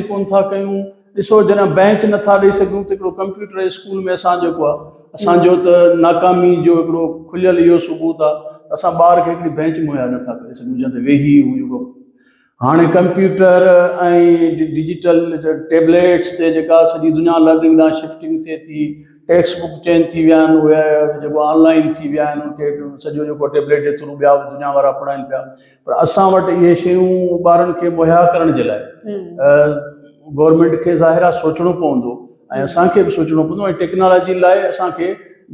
ڪون ٿا ڪيون ڏسو جڏهن بينچ نٿا ڏئي سگهيون ته هڪڙو ڪمپيوٽر اسڪول ۾ اسان جيڪو آهي اسان جو ته ناڪامي جو هڪڙو کليل اهو ثبوت آهي ته اسان ٻار کي هڪڙي بينچ مهيا نٿا ڪري سگهيون جنهن تي ويهي هو جيڪو هاڻي ڪمپيوٽر ۽ ڊجيٽل ٽيبليٽس تي جيڪا سڄي دنيا لرننگ ڏانهن شفٽنگ ٿئي ٿي ٽيڪسٽ بڪ چينج ٿي ويا آهن اهي جيڪو آن لائن ٿي ويا آهن سڄو جيڪو ٽيبليٽ جي ٿرو ٻيا به دنيا وارا پڙهائين پيا پر اسان وٽ اهي شيون ٻارن کي مهيا ڪرڻ جي لاء گورنمينٽ کي ظاهر آهي سوچڻو پوندو ۽ اسان کي به سوچڻو پوندو ۽ ٽيڪنالاجي لاء اسان کي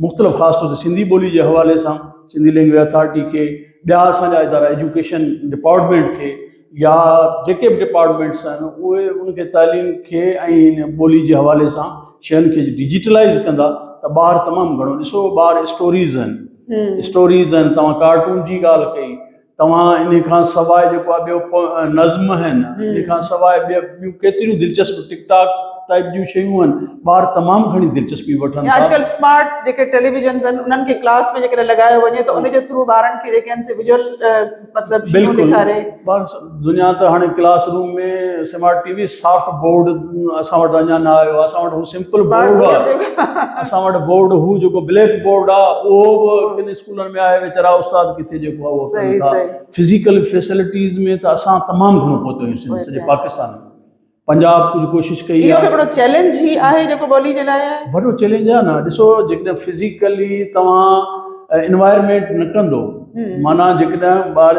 مختلف خاص طور تي سنڌي ٻولي جي حوالي سان سنڌي لينگويج اٿارٽي کي ٻيا اسان جا ادارا ايجوڪيشن ڊپارٽمينٽ کي يا جيڪي به ڊپارٽمينٽس آهن اهي ان کي تعليم کي ۽ ان ٻولي جي حوالي سان شين کي ڊجيٽلائز ڪندا ته ٻار تمام گهڻو ڏسو ٻار اسٽوريز آهن اسٽوريز آهن توهان ڪارٽون جي ڳالهه ڪئي توهان ان کان سواء جيڪو آهي ٻيو پ نظم آهن ان کان سواء ٻيا ٻيون ڪيتريون دلچسپ ٽڪ ٽاڪ ٽائپ جون شيون آهن ٻار تمام گهڻي دلچسپي وٺن ٿا اڄڪلهه اسمارٽ جيڪي ٽيليويزنز آهن انهن کي ڪلاس ۾ جيڪڏهن لڳايو وڃي ته ان جي ٿرو ٻارن کي جيڪي آهن سي ويجوئل مطلب شيون بلڪل ڏيکاري. بس دنيا ته هاڻي classroom ۾ smart T V soft board اسان وٽ اڃان نه آيو آهي اسان وٽ هو سمپل اسمارٽ بورڊ بورڊ آهي جيڪو اسان وٽ بورڊ هو جيڪو بليڪ بورڊ آهي اهو به ڪن اسڪولن ۾ آهي ويچارا استاد ڪٿي جيڪو آهي اهو ڪن صحيح ٿا صحيح فزيڪل فيسلٽيز ۾ ته اسان تمام گهڻو پهتو آهيون سنڌ سڄي پاڪستان ۾ پنجاب ڪجهه ڪوشش ڪئي اهو به هڪڙو چئلينج هي آهي جيڪو ٻولي جي لاء آهي. وڏو چئلينج آهي نه ڏسو جيڪڏهن فزيڪلي توهان انوائرمينٽ نه ڪندو معنيٰ جيڪڏهن ٻار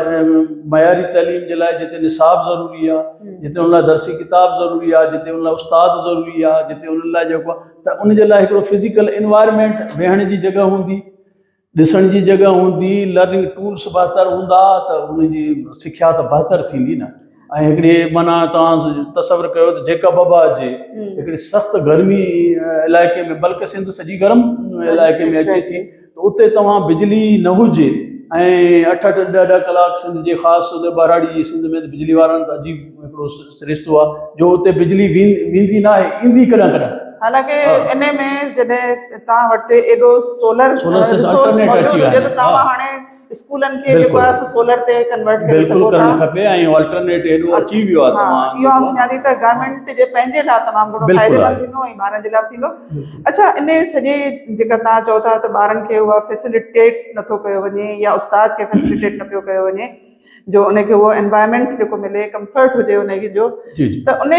معياري تعليم جي لاء جتي نصاب ضروري آهي جتي ان لاء درسي ڪتاب ضروري آهي جتي ان لاء استاد ضروري آهي جتي ان لاء جيڪو آهي ته ان جي لاء هڪڙو فزيڪل انوائرمينٽ ويهڻ جي جڳهه هوندي ڏسڻ جي جڳهه هوندي، لرننگ ٽولس بهتر هوندا ته انهن جي سکيا ته بهتر ٿيندي نه. ۽ هڪڙي معنيٰ توهان تصور ڪيو ته جيڪب آباد جي هڪڙي سخت گرمي علائقي ۾ بلڪه سنڌ سڄي گرم علائقي ۾ اچي ٿي ته اتي توهان بجلي ئي نه هجي ۽ اٺ اٺ ڏهه ڏهه ڪلاڪ سنڌ جي خاص طور تي ٻهراڙي جي سنڌ ۾ ته بجلي وارن ته عجيب هڪڙو سرشتو آ جو اتي بجلي ويندي ناهي ايندي ڪڏهن ڪڏهن. حالانڪه انهي ۾ جڏهن توهان وٽ ايڏو سولر ريسورس موجود هجي ته توهان هاڻي اسڪولن کي جيڪو آهي سو سولر تي ڪنورٽ ڪري سگهو ٿا. بلڪل ڪرڻ کپي ۽ الٽرنيٽ ايڏو اچي ويو آهي توهان اهو آئون سمجهان ٿي ته گورنمينٽ جي پنهنجي لاء تمام گهڻو فائديمند ٿيندو ۽ ٻارن جي لاء به ٿيندو. اڇا انهي سڄي جيڪا توهان چئو ٿا ته ٻارن کي اها فيسلٽيٽ نٿو ڪيو وڃي يا استاد کي فيسلٽيٽ نه پيو ڪيو وڃي. جو ان کي هو انوائرمينٽ جيڪو ملي ڪمفرٽ هجي ان کي جو ته ان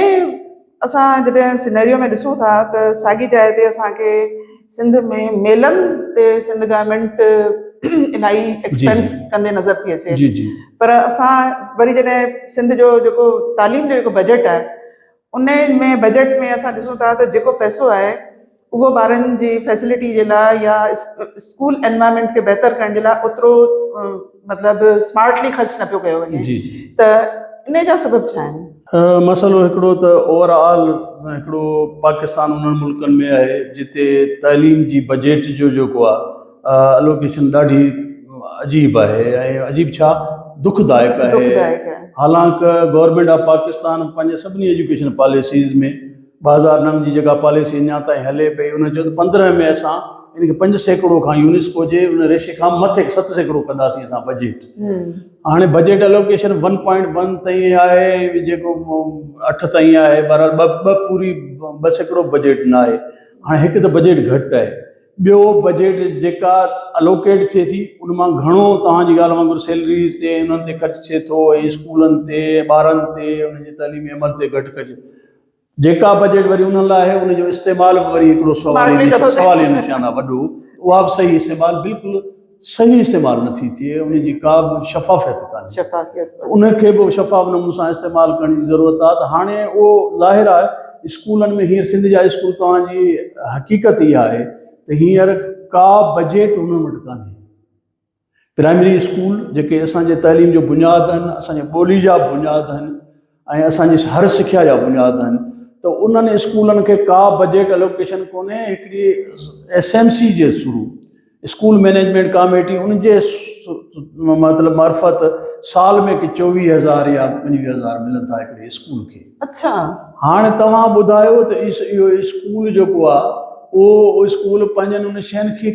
اسان جڏهن سينريو ۾ ڏسون ٿا ته ساڳي جاء تي اسانکي سنڌ ۾ ميلن تي سنڌ گورمينٽ الاهي ايڪسپينس ڪندي نظر ٿي اچي پر اسان وري جڏهن سنڌ جو جيڪو تعليم جو جيڪو بجيٽ آهي انهي ۾ بجيٽ ۾ اسان ڏسون ٿا ته جيڪو پئسو آهي اهو ٻارن جي فيسلٽي جي لاء يا اسڪول انوائرمينٽ کي بهتر ڪرڻ جي لاء اوترو مطلب اسمارٽلي خرچ نه پيو ڪيو وڃي جي جي ته انهي جا سبب ڇا آهن؟ مسئلو هڪڙو ته اوور آل هڪڙو پاڪستان انهن ملڪن ۾ آهي جتي تعليم جي بجيٽ جو جيڪو آهي الوڪيشن ڏاڍي عجيب آهي ۽ عجيب ڇا دک دائڪ آهي حالانڪ گورنمينٽ آف پاڪستان پنهنجي سڀني ايجوڪيشن پاليسيز ۾ ٻه هزار نو جي جيڪا پاليسي اڃا تائين هلي پئي ان چيو ته پندرهن ۾ اسان ان کي پنج سيڪڙو کان يونيسڪو جي ان ريشي کان مٿي ست سيڪڙو ڪنداسين اسان بجيٽ هاڻي budget allocation one point one تائين آهي ۽ جيڪو اٺ تائين آهي بهرحال ٻه ٻه پوري ٻه سيڪڙو بجيٽ ناهي هاڻي هڪ ته بجيٽ گهٽ آهي ٻيو بجيٽ جيڪا الوڪيٽ ٿئي ٿي ان مان گهڻو توهان جي ڳالهه وانگر سيلريز تي انهن تي خرچ ٿئي ٿو ۽ اسڪولن تي ٻارن تي انهن جي تعليمي عمل تي گهٽ ڪجي جيڪا بجيٽ وري انهن لاء آهي ان جو استعمال به وري هڪڙو سوالي نشان آهي وڏو اها به صحيح استعمال بلڪل صحيح استعمال نٿي ٿئي ان جي ڪا به شفافيت ڪانهي ته ان کي به شفاف نموني سان استعمال ڪرڻ جي ضرورت آهي ته هاڻي اهو ظاهر آهي اسڪولن ۾ هينئر سنڌ جا اسڪول توهان جي حقيقت اها آهي ته هينئر ڪا بجيٽ انهن وٽ ڪانهي پرائمري اسڪول جيڪي اسان جي تعليم جو بنياد آهن اسان جي ٻولي جا بنياد آهن ۽ اسان جي هر سکيا جا بنياد آهن ته انهن اسڪولن کي ڪا بجيٽ الوڪيشن ڪونهي هڪڙي ايس ايم سي جي ٿرو اسڪول مينيجمينٽ ڪاميٽي ان جي مطلب معرفت سال ۾ هڪ چوويهه هزار يا پنجويهه هزار ملن ٿا هڪڙي اسڪول کي اڇا هاڻي توهان ٻڌايو ته اهو اسڪول جيڪو آهي اهو اسڪول پنهنجن ان شين کي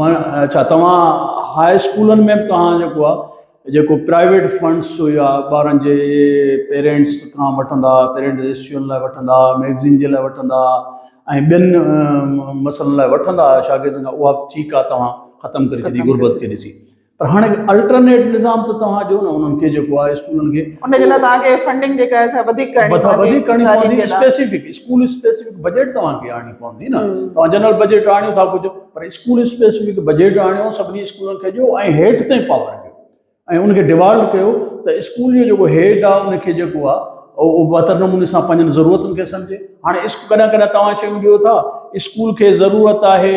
ماڻ اڇا توهان هاء اسڪولن ۾ به توهان جيڪو آ جيڪو پرائيويٽ فنڊس هيا ٻارن جي پيرينٽس کان وٺندا پيرينٽس اسٽيون لاء وٺندا ميگزين جي لاء وٺندا ۽ ٻين مسئلن لاء وٺندا شاگردن کان اها ٺيڪ آ توهان ختم ڪري ڇڏي غربت کي ڏسي پر هاڻي به الٽرنيٽ نظام ته توهان ڏيو نه انهن کي جيڪو آهي اسڪولن کي ان جي لاء توهان کي فنڊنگ جيڪا آهي سا وڌيڪ ڪرڻي مٿا پوندي وڌيڪ ڪرڻي تعليم پوندي جي لاء اسپيسيفڪ اسڪول اسپيسيفڪ بجيٽ توهان کي آڻڻي پوندي نه مم. توهان جنرل بجيٽ آڻيو ٿا ڪجهه پر اسڪول اسپيسيفڪ بجيٽ آڻيو سڀني اسڪولن کي ڏيو ۽ هيٺ تائين پاور ڏيو ۽ ان کي ڊيوالو ڪيو ته اسڪول جو جيڪو هيڊ آهي ان کي جيڪو آهي اهو بهتر نموني سان پنهنجن ضرورتن کي سمجهي هاڻي اسڪ ڪڏهن ڪڏهن توهان شيون ڏيو ٿا اسڪول کي ضرورت آهي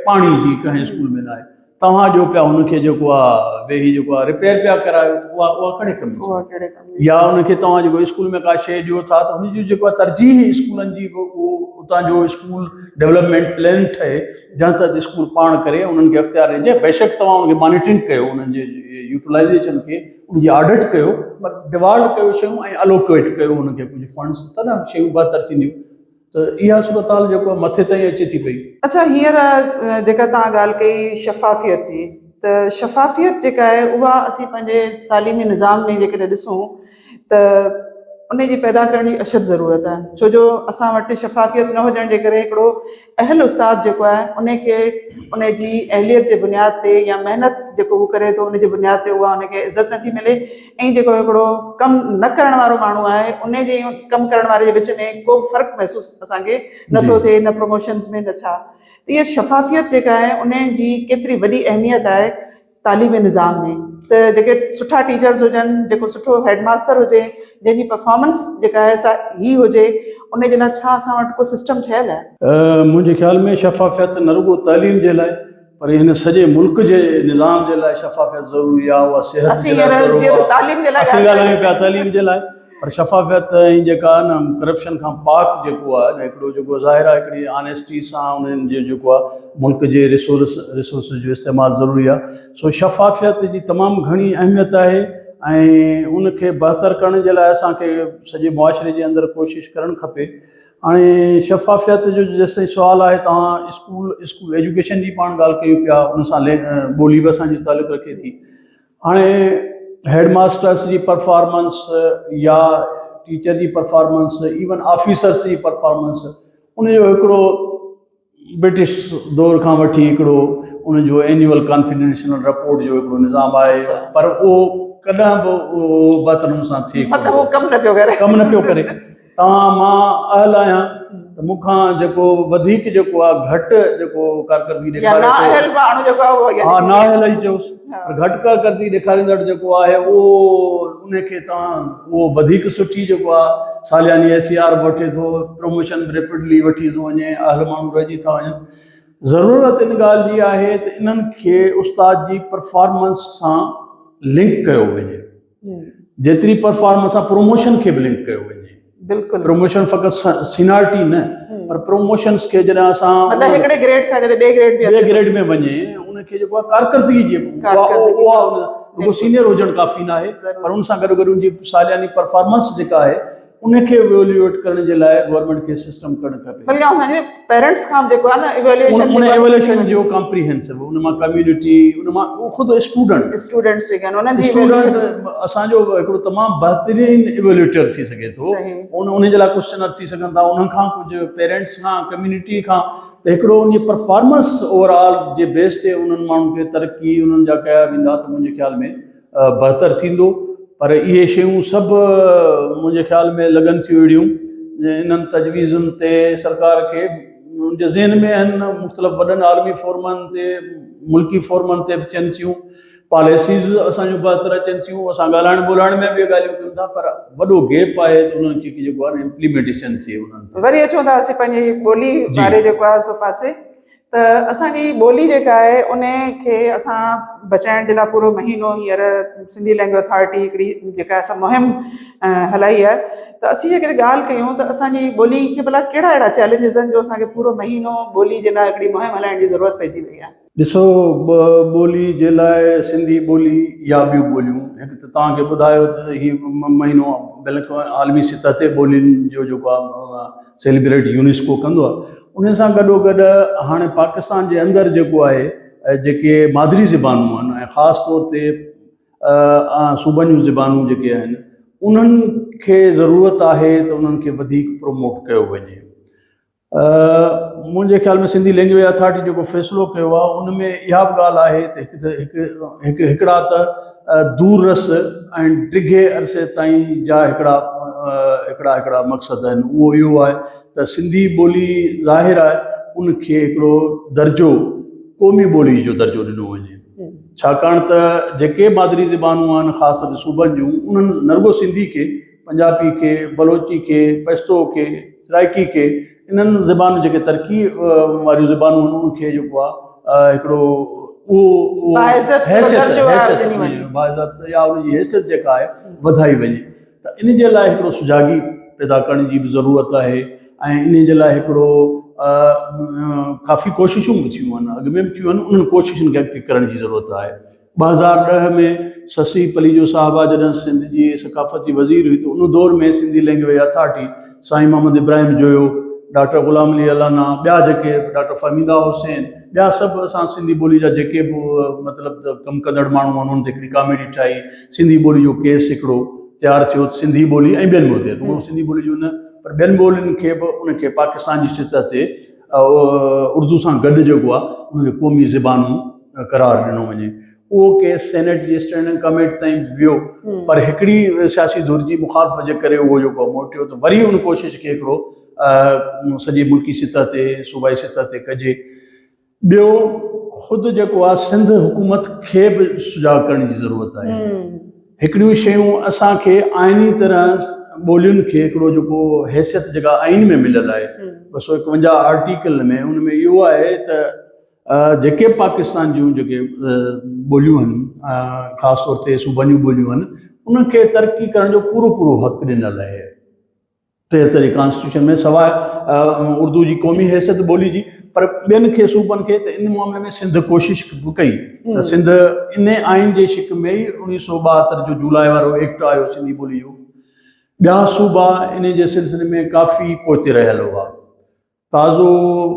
پاڻي جي ڪنهن اسڪول ۾ ناهي توهان ڏيو پيا هن کي جيڪو آ ويهي جيڪو آ رپيئر پيا ڪرايو ته اها اها ڪهڙي ڪم جي اها ڪهڙي ڪم جي يا هن کي توهان جيڪو اسڪول ۾ ڪا شيء ڏيو ٿا ته هن جي جيڪو آ ترجيح اسڪولن جي به اهو اتان جو اسڪول ڊولپمينٽ پلين ٺهي جنهن تحت اسڪول پاڻ ڪري انهن کي اختيار ڏجي بيشڪ توهان ان کي مانيٽرنگ ڪيو انهن جي يوٽيلائيزيشن کي ان جي آڊٽ ڪيو پر ڊوالٽ ڪيو شيون ۽ الوڪيٽ ڪيو ان کي ڪجهه فنڊس تڏهن شيون بهتر ٿينديون ته اها صورتحال جيڪو آهي مٿي تائين اچي ٿي پئي. اڇا هينئر جيڪا توهان ڳالهه ڪئي شفافيت جي ته شفافيت جيڪا آهي اها اسين پنهنجي تعليمي نظام ۾ جيڪڏهن ڏسون ته ان جي پيدا ڪرڻ جي اشد ضرورت آهي ڇو جو اسان وٽ شفافيت نه هجڻ جي ڪري هڪڙو اهل استاد جيڪو آهي ان کي ان جي اهليت جي بنياد تي يا محنت جيڪو هو ڪري ٿو ان جي بنياد تي اها ان کي عزت نٿي ملي ۽ جيڪو هڪڙو ڪم نه ڪرڻ وارو ماڻهو آهي ان جي ۽ ڪم ڪرڻ واري جي وچ ۾ ڪو به فرق محسوس اسان کي نه ٿو ٿئي نه پروموشنز ۾ نه ڇا اها شفافيت جيڪا آهي ان جي ڪيتري وڏي اهميت آهي تعليمي نظام ۾ ته جيڪي سٺا ٽيچرز هجن جيڪو سٺو هيڊ ماستر هجي جنهن جي پرفارمنس جيڪا آهي سا هي هجي ان جي لاء ڇا اسان وٽ ڪو سسٽم ٺهيل آهي؟ منهنجي خيال ۾ شفافيت نه رڳو تعليم جي لاء پر هن سڄي ملڪ جي نظام جي لاء شفافيت ضروري آهي اها صحت اسين جي لاء هينئر جيئن ته تعليم جي لاء اسين ڳالهه ڳالهايون ڪريون پيا تعليم جي لاء پر شفافيت ۽ جيڪا آهي نه ڪرپشن کان پاڪ جيڪو آهي نه هڪڙو جيڪو ظاهر آهي هڪڙي آنيسٽي سان انهن جي جيڪو آهي ملڪ جي ريسورس ريسورسز جو استعمال ضروري آهي سو شفافيت جي تمام گهڻي اهميت آهي ۽ ان کي بهتر ڪرڻ جي لاء اسان کي سڄي معاشري جي اندر ڪوشش ڪرڻ کپي هاڻي شفافيت جو جيستائين سوال آهي توهان اسڪول اسڪول ايجوڪيشن جي پاڻ ڳالهه ڪيون پيا ان سان ٻولي به اسانجي تعلق رکي ٿي هاڻي هيڊ ماسترس جي پرفارمنس يا ٽيچر جي پرفارمنس ايون آفيسرس جي پرفارمنس ان جو هڪڙو برٽش دور کان وٺي هڪڙو ان جو اينيول ڪانفيڊنشنل رپورٽ جو هڪڙو نظام آهي اڇا. پر اهو ڪڏهن به اهو بهتر نموني سان ٿئي ڪونه مطلب هو ٿو. ڪم نه پيو ڪري. ڪم نه پيو ڪري. توهان مان اهل آهيان ته مون کان جيڪو وڌيڪ جيڪو آهي گهٽ جيڪو ڪارڪردگي يا ڏيکاري نا ٿو. اهل ماڻهو جيڪو آهي اهو يعني. ها نا اهل ئي چيوس. پر گهٽ ڪا ڪرتي ڏيکاريندڙ جيڪو آهي اهو انهي کي تان اهو وڌيڪ سٺي جيڪو آ سالياني ايس سي آر به وٺي ٿو پروموشن به ريپڊلي وٺي ٿو وڃي اهل ماڻهو رهجي ٿا وڃن ضرورت ان ڳالهه جي آهي ته انهن کي استاد جي پرفارمنس سان لنڪ ڪيو وڃي. جيتري پرفارمنس آ پروموشن کي به لنڪ ڪيو وڃي بلڪل پروموشن فقط سينارٽي نه پر پروموشنز کي جڏهن اسان مطلب هڪڙي گريڊ کان جڏهن ٻي گريڊ ۾ ٻي گريڊ ۾ وڃي ان کي جيڪو ڪارڪردگي جي ڪارڪردگي سينيئر هجڻ ڪافي نه آهي پر ان سان گڏ گڏ ان جي سالياني پرفارمنس جيڪا آهي ان کي ايويليوئيٽ ڪرڻ جي لاء گورنمينٽ کي سسٽم ڪرڻ کپي. بلڪه اسان جي پيرنٽس کان به جيڪو آهي نه ايويليوئيشن ان ايويليوئيشن جو ڪامپريهنسو ان مان ڪميونٽي ان مان هو خود اسٽوڊنٽ اسٽوڊنٽس جيڪي آهن انهن جي اسٽوڊنٽ اسان جو هڪڙو تمام بهترين ايويليوئيٽر ٿي سگهي ٿو ان ان جي لاء ڪوسچنر ٿي سگهن ٿا انهن کان ڪجهه پيرنٽس کان ڪميونٽي کان ته هڪڙو ان جي پرفارمنس اوور آل جي بيس تي انهن ماڻهن کي ترقي انهن جا ڪيا ويندا ته منهنجي خيال ۾ بهتر ٿيندو پر اهي شيون سڀ منهنجي خيال ۾ لڳن ٿيون اهڙيون انهن تجويزن تي سرڪار کي ان جي ذهن ۾ آهن مختلف وڏن عالمي فورمن تي ملڪي فورمن تي به ٿين ٿيون پاليسيز اسان جون بهتر اچن ٿيون اسان ڳالهائڻ ٻولهائڻ ۾ به ڳالهيون ڪيون ٿا پر وڏو گيپ آهي ته انهن کي جيڪو آهي امپليمينٽيشن ٿئي انهن وري اچون ٿا اسين پنهنجي ٻولي واري جيڪو آهي سو پاسي ته اسان جي ٻولي جيڪا آهي ان کي اسان بچائڻ جي لاء پورو مهينو هينئر سنڌي لينگويج اٿارٽي هڪڙي جيڪا اسان مهم هلائي آهي ته اسين جي ڪڏهن ڳالهه ڪيون ته اسان جي ٻولي کي ڀلا ڪهڙا اهڙا چئلينجز آهن جو اسان کي پورو مهينو ٻولي جي لاء هڪڙي مهم هلائڻ جي ضرورت پئجي وئي آهي. ڏسو ٻولي جي لاء سنڌي ٻولي يا ٻيون ٻوليون هڪ ته توهان کي ٻڌايو ته هي مهينو بلڪ عالمي سطح تي ٻولين جو جيڪو آهي سيلبريٽ يونيسڪو ڪندو آهي ان سان گڏو گڏ هاڻي پاڪستان جي اندر جيڪو آهي جيڪي مادري زبانون آهن ۽ خاص طور تي صوبن جون زبانون جيڪي آهن انهن کي ضرورت آهي ته انهن کي وڌيڪ پروموٽ ڪيو وڃي منهنجي خيال ۾ سنڌي لينگويج اٿارٽي جيڪو فيصلو ڪيو آهي ان ۾ اها به ڳالهه آهي ته هڪ ته هڪڙا ته دور رس ۽ ڊگهي عرصي تائين جا هڪڙا هڪڙا هڪڙا مقصد آهن اهو اهو آهي ته سنڌي ٻولي ظاهر آهي ان کي هڪڙو درجو قومي ٻولي جو درجو ڏنو وڃي ڇاڪاڻ ته جيڪي مادري زبانون آهن خاص طور تي صوبن جون انهن نه رڳو سنڌي کي پنجابي کي بلوچي کي پشتو کي سرائڪي کي انهن زبانون جيڪي ترقي واريون زبانون آهن انهن کي جيڪو آهي هڪڙو اهو حيثيت يا ان جي حيثيت جيڪا آهي وڌائي وڃي ته ان جي لاء هڪڙو سجاڳي پيدا ڪرڻ جي به ضرورت آهي ۽ ان جي لاء هڪڙو ڪافي ڪوششون به ٿيون آهن اڳ ۾ به ٿيون آهن انهن ڪوششن کي اڳتي ڪرڻ جي ضرورت آهي ٻه هزار ڏهه ۾ سسي پليجو صاحبه جڏهن سنڌ جي ثقافت جي وزير هئي ته ان دور ۾ سنڌي لينگويج اٿارٽي سائين محمد ابراهيم جويو ڊاڪٽر غلام علي الانا ٻيا جيڪي ڊاڪٽر فهميده حسين ٻيا سڀ اسان سنڌي ٻولي جا جيڪي به مطلب ته ڪم ڪندڙ ماڻهو آهن انهن تي هڪڙي ڪاميٽي ٺاهي سنڌي ٻولي جو ڪيس هڪڙو تيار ٿيو ته سنڌي ٻولي ۽ ٻين ٻولين رڳو سنڌي ٻولي جو نه پر ٻين ٻولين کي به ان کي پاڪستان جي سطح تي اردو سان گڏ جيڪو آ ان کي قومي زبان قرار ڏنو وڃي اهو ڪيس سينيٽ جي اسٽينڊنگ ڪميٽ تائين ويو پر هڪڙي سياسي ڌر جي مخالفت جي ڪري اهو جيڪو موٽيو ته وري ان ڪوشش کي هڪڙو سڄي ملڪي سطح تي صوبائي سطح تي ڪجي ٻيو خود جيڪو آ سنڌ حڪومت کي به سجاڳ ڪرڻ جي ضرورت آهي هڪڙيون شيون اسان کي آئيني طرح ٻولين کي هڪڙو جيڪو حيثيت جيڪا آئين ۾ مليل آهي ٻه سؤ اڪونجاهه آرٽيڪل ۾ ان ۾ اهو آهي ته جيڪي پاڪستان جون جيڪي ٻوليون آهن خاص طور تي صوبن جون ٻوليون آهن انهن کي ترقي ڪرڻ جو پورو پورو حق ڏنل آهي ٽيهترين ڪانسٽيٽيوشن ۾ سواء اردو جي قومي حيثيت ٻولي جي پر ٻين کي صوبن کي ته ان معاملي ۾ سنڌ ڪوشش به ڪئي ته سنڌ ان آئين جي شڪ ۾ ئي اوڻيهه سؤ ٻاهتر جو جولاء وارو ايڪٽ آيو سنڌي ٻولي جو ٻيا صوبا ان جي سلسلي ۾ ڪافي پوئتي رهيل هئا تازو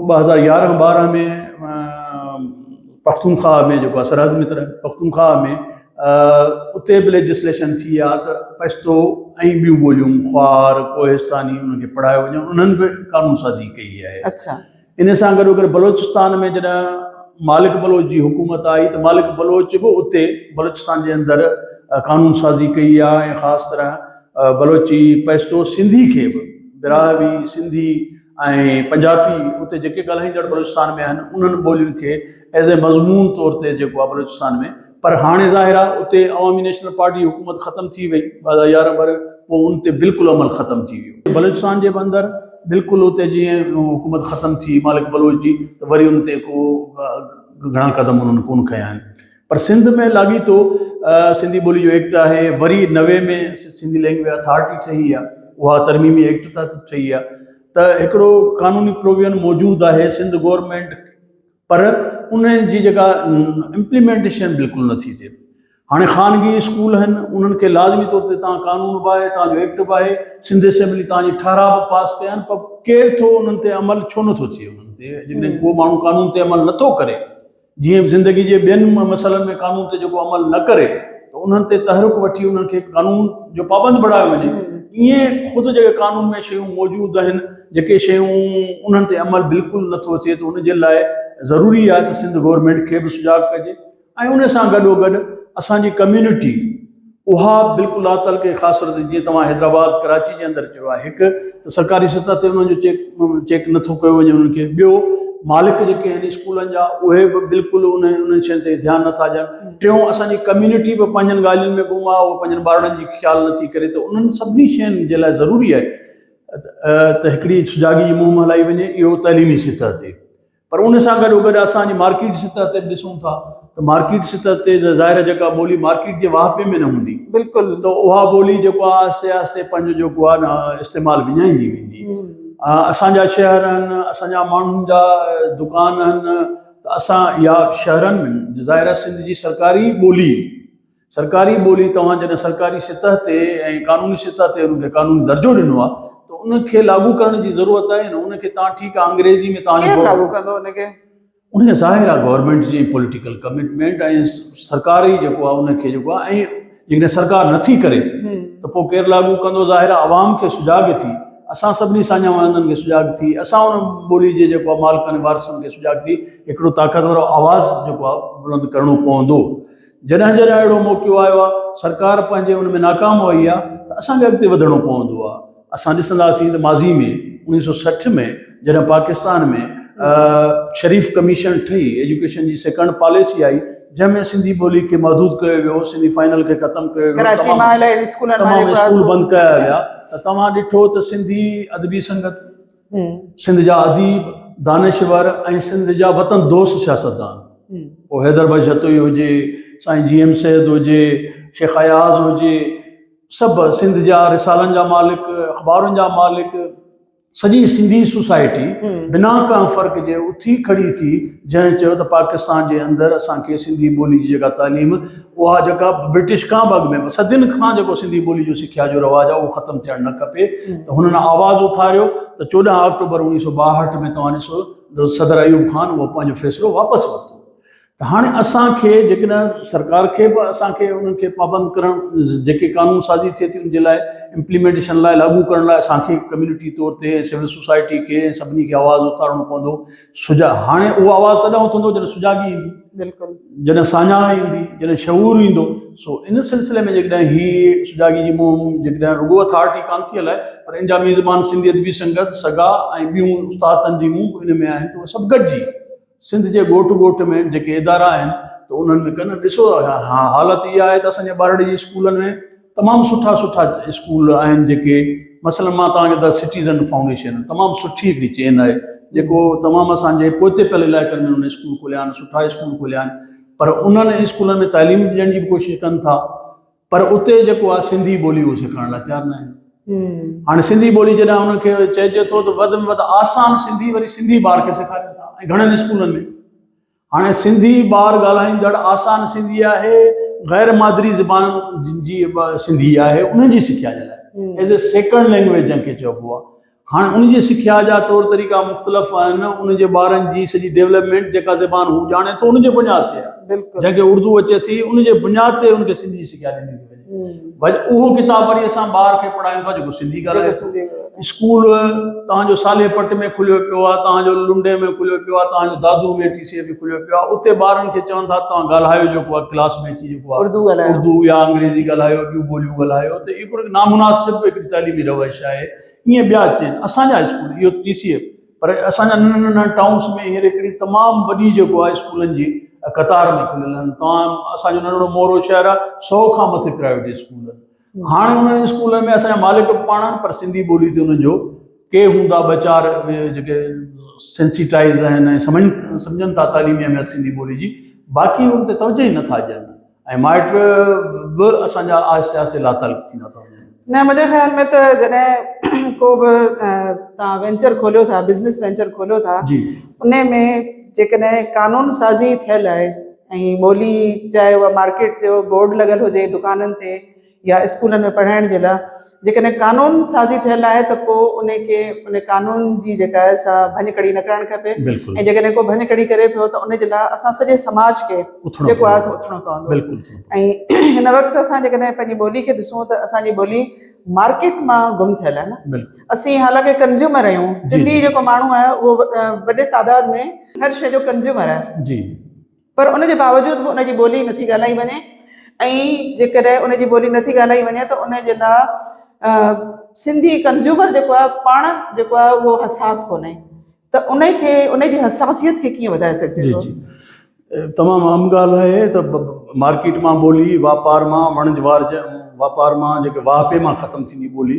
ٻه هزار يارهن ٻارهن ۾ پختونخواهه ۾ جيڪو سرحد متر پختونخواهه ۾ اتي به ليجسليشن ٿي آ ته پشتو ۽ ٻيون ٻوليون خوار ڪوهستاني انهن کي پڙهايو وڃي انهن به قانون سازي ڪئي آهي اڇا ان سان گڏو گڏ بلوچستان ۾ جڏهن مالڪ بلوچ جي حڪومت آئي ته مالڪ بلوچ به اتي بلوچستان جي اندر قانون سازي ڪئي آ ۽ خاص طرح بلوچي پئسو سنڌي کي به براهوي، سنڌي ۽ پنجابي اتي جيڪي ڳالهائيندڙ بلوچستان ۾ آهن انهن ٻولين کي ايز اي مضمون طور تي جيڪو آهي بلوچستان ۾ پر هاڻي ظاهر آهي اتي عوامي نيشنل پارٽي جي حڪومت ختم ٿي وئي ٻه هزار يارهن ڀر پوء ان تي بلڪل عمل ختم ٿي ويو. بلوچستان جي به اندر بلڪل اتي جيئن حڪومت ختم ٿي مالڪ بلوچ جي ته وري ان تي ڪو گهڻا قدم انهن ڪونه کنيا آهن. پر سنڌ ۾ لاڳيتو سنڌي ٻولي جو ايڪٽ آهي وري نوي ۾ سنڌي لينگويج اٿارٽي ٺهي آهي اها ترميمي ايڪٽ تحت ٺهي آهي ته هڪڙو قانوني پروويئن موجود آهي سنڌ گورمينٽ پر ان جي جيڪا امپليمينٽيشن بلڪل نٿي ٿئي هاڻي خانگي اسڪول آهن انهن کي لازمي طور تي تان قانون به آهي تان جو ايڪٽ به آهي سنڌ اسيمبلي تان جي ٺهراء به پاس ڪيا آهن پر ڪير ٿو انهن تي عمل ڇو نٿو ٿئي انهن تي جن ڪو ماڻهو قانون تي عمل نٿو ڪري جيئن به زندگي جي ٻين مسئلن ۾ قانون تي جيڪو عمل نه ڪري ته انهن تي تحرڪ وٺي انهن کي قانون جو پابند بڻايو وڃي ايئن خود جيڪي قانون ۾ شيون موجود آهن جيڪي شيون انهن تي عمل بلڪل نه ٿو اچي ته ان جي لاء ضروري آهي ته سنڌ گورنمينٽ کي به سجاڳ ڪجي ۽ ان سان گڏو گڏ اسان جي ڪميونٽي اها بلڪل لات تعلقي کي خاص صورت جيئن توهان حيدرآباد ڪراچي جي اندر چيو آهي هڪ ته سرڪاري سطح تي انهن جو چيڪ چيڪ نٿو ڪيو وڃي انهن کي ٻيو مالڪ جيڪي آهن اسڪولن جا اهي به بلڪل ان انهن شين تي ڌيان نٿا ڏين ٽيون اسان جي ڪميونٽي به پنهنجن ڳالهين ۾ گم آهي اهو پنهنجن ٻارڙن جي خيال نٿي ڪري ته انهن سڀني شين جي لاء ضروري آهي ته هڪڙي سجاڳي جي مهم هلائي وڃي اهو تعليمي سطح تي پر ان سان گڏو گڏ اسان جي مارڪيٽ سطح تي به ڏسون ٿا ته مارڪيٽ سطح تي ظاهر آهي جيڪا ٻولي مارڪيٽ جي واهپي ۾ نه هوندي بلڪل ته اها ٻولي جيڪو آهي آهستي آهستي پنهنجو جيڪو آهي نه استعمال وڃائيندي ويندي اسان جا شهر آهن اسان جا ماڻهن جا دڪان آهن ته اسان يا شهرن ۾ ظاهر آهي سنڌ جي سرڪاري ٻولي سرڪاري ٻولي توهان جڏهن سرڪاري سطح تي ۽ قانوني سطح تي ان کي قانوني درجو ڏنو آهي ته ان کي لاڳو ڪرڻ جي ضرورت آهي نه ان کي تان ٺيڪ آهي انگريزي ۾ توهان کير لاڳو ڪندو ان کي. ان کي ظاهر آهي گورنمينٽ جي پوليٽيڪل ڪمٽمينٽ ۽ سرڪاري جيڪو آهي ان کي جيڪو آهي ۽ جيڪڏهن سرڪار نٿي ڪري ته پوء ڪير لاڳو ڪندو ظاهر آهي عوام کي سجاڳ ٿي اسان سڀني ساڃاهه وڻندن کي سجاڳ ٿي اسان ان ٻولي جي جيڪو آهي مالڪن وارثن کي سجاڳ ٿي هڪڙو طاقتور آواز جيڪو آهي بلند ڪرڻو پوندو. جڏهن جڏهن اهڙو موقعو آيو آهي، سرڪار پنهنجي ان ۾ ناڪام وئي آهي ته اسان کي اڳتي وڌڻو پوندو آهي. اسان ڏسنداسين ته ماضي ۾ اوڻيهه سؤ سٺ ۾ جڏهن پاڪستان ۾ شريف ڪميشن ٺهي، ايجوڪيشن جي سيڪنڊ پاليسي آئي، جنهن ۾ سنڌي ٻولي کي محدود ڪيو ويو، سيمي فائنل کي ختم ڪيو ويو، ڪراچي مان الائي اسڪولن مان تمام اسڪول بند ڪيا ويا ته توهان ڏٺو ته سنڌي ادبي سنگت، سنڌ جا اديب، دانشور ۽ سنڌ جا وطن دوست سياستدان پوء حيدر بخش جتوئي هجي، سائين جي ايم سيد هجي، شيخ اياز هجي، سڀ سنڌ جا رسالن جا مالڪ، اخبارن جا مالڪ، سڄي سنڌي سوسائٽي بنا ڪنهن فرق جي اٿي کڙي ٿي، جنهن چيو ته پاڪستان جي اندر اسان کي سنڌي ٻولي جي جيڪا تعليم اها جيڪا برٽش کان به اڳ ۾ صدين کان جيڪو سنڌي ٻولي جو سکيا جو رواج آهي اهو ختم ٿيڻ نه کپي ته هنن آواز اٿاريو ته چوڏهن آڪٽوبر اوڻيهه سو ٻاهٺ ۾ توهان ڏسو ته صدر ايوب خان اهو پنهنجو فيصلو واپس ورتو ته هاڻي اسان کي جيڪڏهن سرڪار کي به اسان کي انهن کي پابند ڪرڻ جيڪي قانون سازي ٿئي ٿي ان جي لاء امپليمينٽيشن لاء لاڳو ڪرڻ لاء اسان کي ڪميونٽي طور تي سول سوسائٽي کي سڀني کي آواز اٿارڻو پوندو سجاڳ، هاڻي اهو آواز تڏهن اٿندو جڏهن سجاڳي ايندي، بلڪل. جڏهن ساڃاهه ايندي، جڏهن شعور ايندو، سو ان سلسلي ۾ جيڪڏهن هي سجاڳي جي مهم جيڪڏهن رڳو اٿارٽي ڪانه ٿي هلائي پر ان جا ميزبان سنڌي ادبي سنگت، سگا ۽ ٻيون استاد تنظيمون به ان ۾ آهن ته اهي سڀ گڏجي سنڌ جي ڳوٺ ڳوٺ ۾ جيڪي ادارا آهن ته انهن ۾ ڪن، ڏسو حالت اها آهي ته اسان جي ٻارڙي جي اسڪولن ۾. تمام سٺا سٺا اسڪول آهن جيڪي مثلا مان توهان کي ته سٽيزن فائونڊيشن تمام سٺي هڪڙي چين آهي جيڪو تمام اسان جي پوئتي پيل علائقن ۾ ان اسڪول کوليا آهن سٺا اسڪول کوليا آهن پر انهن اسڪولن ۾ تعليم ڏيڻ جي به ڪوشش ڪن ٿا پر اتي جيڪو آهي سنڌي ٻولي هو سيکارڻ لاء تيار نه آهن هاڻي سنڌي ٻولي جڏهن انهن کي چئجي ٿو ته وڌ ۾ وڌ آسان سنڌي وري سنڌي ٻار کي سيکارين ٿا ۽ گهڻن اسڪولن ۾ هاڻي سنڌي ٻار ڳالهائيندڙ آسان سنڌي آهي غير مادري زبان جن جي سنڌي آهي انهن جي سکيا جي لاء ايز اي سيڪنڊ لينگويج جنهن کي چئبو آهي هاڻي ان جي سکيا جا طور طريقا مختلف آهن ان جي ٻارن جي سڄي ڊيولپمينٽ جيڪا زبان هو ڄاڻي ٿو ان جي بنياد تي آهي جنهن کي اردو اچي ٿي ان جي بنياد تي ان کي سنڌي جي سکيا ڏني ٿي وڃي. بھج اھو ڪتاب وري اسان ٻار کي پڙھايون ٿا جيڪو سنڌي ڳالھائي جيڪو سنڌي ڳالھائي اسڪول تان جو صالح پٽ ۾ کليو پيو آ تان جو لنڊي ۾ کليو پيو آ تان جو دادو ۾ ٽي سي ۾ کليو پيو آ اتي ٻارن کي چون ٿا تان ڳالھايو جيڪو آ ڪلاس ۾ اچي جيڪو آ اردو ڳالھايو اردو يا انگريزي ڳالھايو ٻيون ٻوليون ڳالھايو ته اھو ھڪڙو نامناسب ھڪڙي تعليمي روش آھي ائين ٻيا چين اسان جا اسڪول اھو ٽي سي ايف پر اسان جا ننڍن ننڍن ٽائونس ۾ هينئر هڪڙي تمام وڏي جيڪو آهي اسڪولن جي قطار ۾ کليل آهن توهان اسان جو ننڍڙو مورو شهر آهي سو کان مٿي پرائيويٽ اسڪول آهن هاڻي انهن اسڪولن ۾ اسان جا مالڪ به پاڻ آهن پر سنڌي ٻولي تي انهن جو ڪي هوندا ٻه چار اهي جيڪي سينسيٽائز آهن ۽ سمجهن سمجهن ٿا تعليمي اهميت سنڌي ٻولي جي باقي ان تي توجهه ئي نٿا ڏين ۽ مائٽ به اسان جا آهستي آهستي لاتعلق ٿيندا ٿا وڃن. نه منهنجي خيال ۾ ته جڏهن ڪو به تان وينچر کوليو ٿا بزنس وينچر کوليو ٿا ان ۾ جيڪڏهن قانون سازي ٿيل آهي ۽ ٻولي چاهي اها مارڪيٽ جو بورڊ لڳل هجي دڪانن تي يا اسڪولن ۾ پڙهائڻ جي لاء جيڪڏهن قانون سازي ٿيل آهي ته پوء ان کي ان قانون جي جيڪا آهي سا ڀڃ ڪڙي نه ڪرڻ کپي بلڪل ۽ جيڪڏهن ڪو ڀڃ ڪڙي ڪري پيو ته ان جي لاء اسان سڄي سماج کي اٿڻو جيڪو آهي سو اٿڻو پوندو بلڪل ۽ هن وقت اسان جيڪڏهن پنهنجي ٻولي کي ڏسون ته اسان جي ٻولي مارڪيٽ مان گم ٿيل آهي نه بلڪل اسين حالانڪه ڪنزيومر آهيون جي جي سنڌي جيڪو ماڻهو آهي اهو وڏي تعداد ۾ هر شيء جو ڪنزيومر آهي جي پر ان جي باوجود به ان جي ٻولي نٿي ڳالهائي وڃي ۽ جيڪڏهن ان جي ٻولي نٿي ڳالهائي وڃي ته ان جي لا سنڌي ڪنزيومر جيڪو آهي پاڻ جيڪو آهي اهو حساس ڪونهي ته ان کي ان جي حساسيت کي ڪيئن وڌائي سگهجي ٿو جي جي تمام اهم ڳالهه آهي ته مارڪيٽ مان ٻولي واپار مان وڻج وارج واپار مان جيڪي واهپي مان ختم ٿيندي ٻولي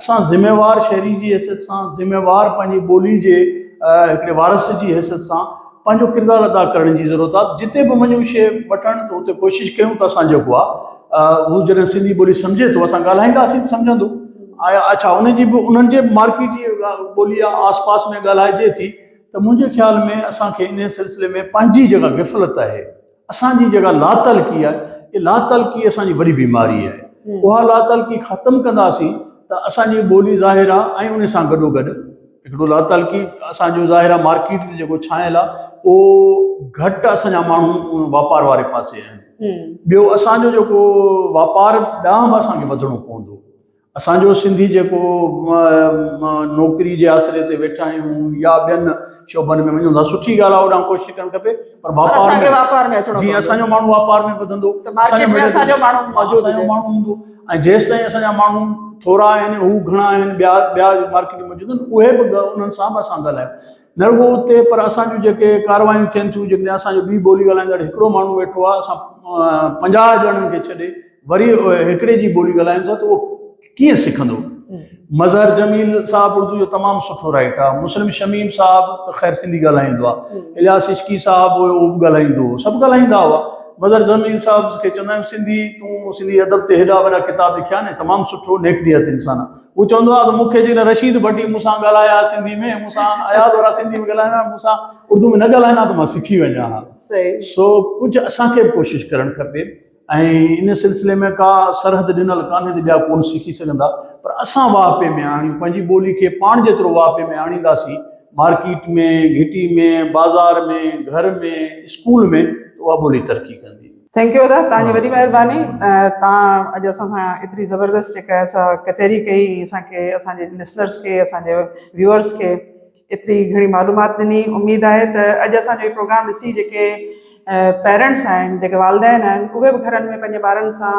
اسان ذميوار شهري جي حيثيت سان ذميوار پنهنجي ٻولي جي هڪڙي وارث جي حيثيت سان پنهنجو ڪردار ادا ڪرڻ جي ضرورت آهي جتي به وڃون شيء وٺڻ ته اتي ڪوشش ڪيون ته اسان جيڪو آهي هو جڏهن سنڌي ٻولي سمجهي ٿو اسان ڳالهائينداسين ته سمجهندو آيا اڇا ان جي به انهن جي مارڪيٽ جي ٻولي آهي آس پاس ۾ ڳالهائجي ٿي ته منهنجي خيال ۾ اسان کي انهي سلسلي ۾ پنهنجي جيڪا غفلت آهي اسان جي جيڪا لاتعلقي آهي اهي لاتعلقي اسان جي وڏي بيماري آهي اها لاتعلقي ختم ڪنداسين ته اسان جي ٻولي ظاهر آهي ۽ ان سان گڏو گڏ هڪڙو لاتعلقي اسان جو ظاهر آهي مارڪيٽ تي جيڪو ڇانيل آهي اهو گهٽ اسان جا ماڻهو واپار واري پاسي آهن ٻيو اسان جو جيڪو واپار ڏانهن به اسان کي وڌڻو پوندو اسان جو سنڌي جيڪو نوڪري جي آسري تي ويٺا آهيون يا ٻين شعبن ۾ وڃون ٿا سٺي ڳالهه آهي اوڏانهن ڪوشش ڪرڻ کپي پر واپار ۾ واپار ۾ اچڻو جي اسان جو ماڻهو واپار ۾ وڌندو ته مارڪيٽ ۾ اسان جو ماڻهو موجود اسان جو ماڻهو هوندو ۽ جيستائين اسان جا ماڻهو ٿورا آهن هو گهڻا آهن ٻيا ٻيا مارڪيٽ ۾ موجود آهن اهي به انهن سان به اسان ڳالهايو نه رڳو اتي پر اسان جون جيڪي ڪارروايون ٿين ٿيون جيڪڏهن اسان جو ٻي ٻولي ڳالهائيندڙ هڪڙو ماڻهو ويٺو آهي اسان پنجاهه ڄڻن کي ڇڏي وري هڪڙي جي ٻولي ڳالهايون ٿا ته اهو ڪيئن سکندو. مظهر جميل صاحب اردو جو تمام سٺو رائٽر آهي مسلم شميم صاحب ته خير سنڌي ڳالهائيندو آهي الياس عشقي صاحب هيو اهو به ڳالهائيندو هو سڀ ڳالهائيندا هئا مظهر جميل صاحب کي چوندا آهيون سنڌي تون سنڌي ادب تي هيڏا وڏا ڪتاب لکيا آهن ۽ تمام سٺو نيڪ نيت انسان آهي هو چوندو آهي ته مون کي جيڪڏهن رشيد ڀٽي مون سان ڳالهائي ها سنڌي ۾ مون سان اياز وارا سنڌي ۾ ڳالهائين ها مون سان اردو ۾ نه ڳالهائين ها ته مان سکي وڃان ها سو ڪجهه اسان کي به ڪوشش ڪرڻ کپي ۽ ان سلسلي ۾ ڪا سرحد ڏنل ڪانهي ته ٻيا ڪونه سکي سگهندا پر اسان واهه پي ۾ آڻيون پنهنجي ٻولي کي پاڻ جيترو واهه پي ۾ آڻينداسين مارڪيٽ ۾ گهٽي ۾ بازار ۾ گهر ۾ اسڪول ۾ اها ٻولي ترقي ڪندي ٿينڪ يو ادا تان جي وڏي مهرباني تان اڄ اسان سان ايتري زبردست جيڪا اسا ڪچهري ڪئي اسان کي اسان جي لسنرز کي اسان جي ويورز کي ايتري گهڻي معلومات ڏني اميد آهي ته اڄ اسان جو پروگرام ڏسي جيڪي پيرنٽس آهن جيڪي والدين آهن اهي به گهرن ۾ پنهنجي ٻارن سان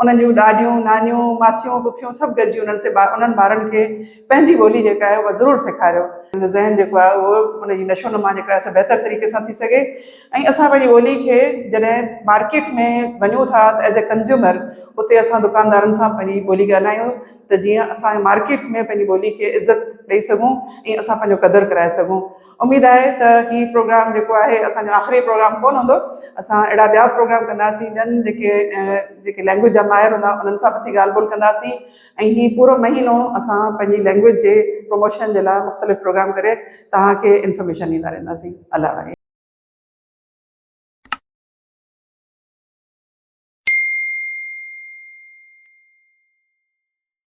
انهن جون ڏاڏيون، نانيون، ماسيون، پڦيون سڀ گڏجي انهن سي انهن ٻارن کي پنهنجي ٻولي جيڪا آهي اها ضرور سيکاريو. انهن جو ذهن جيڪو آهي اهو ان جي نشو نما جيڪا آهي سا بهتر طريقي سان ٿي سگهي ۽ اسان پنهنجي ٻولي کي جڏهن مارڪيٽ ۾ وڃون ٿا ته ايز اي ڪنزيومر اتي اسان دڪاندارن سان پنهنجي ٻولي ڳالهايون ته جيئن اسان مارڪيٽ ۾ پنهنجي ٻولي کي عزت ڏئي سگهون ۽ اسان پنهنجو قدر ڪرائي سگهون. اميد آهي ته هي پروگرام جيڪو آهي اسان جو آخري پروگرام ڪونه هوندو اسان اهڙا ٻيا به پروگرام ڪنداسين ٻين جيڪي جيڪي لينگويج جا ماهر هوندا انهن سان به اسين ڳالهه ٻولهه ڪنداسين ۽ هي پورو مهينو اسان پنهنجي لينگويج جي پروموشن جي لاء مختلف پروگرام ڪري توهان کي انفارميشن ڏيندا رهنداسين الله حافظ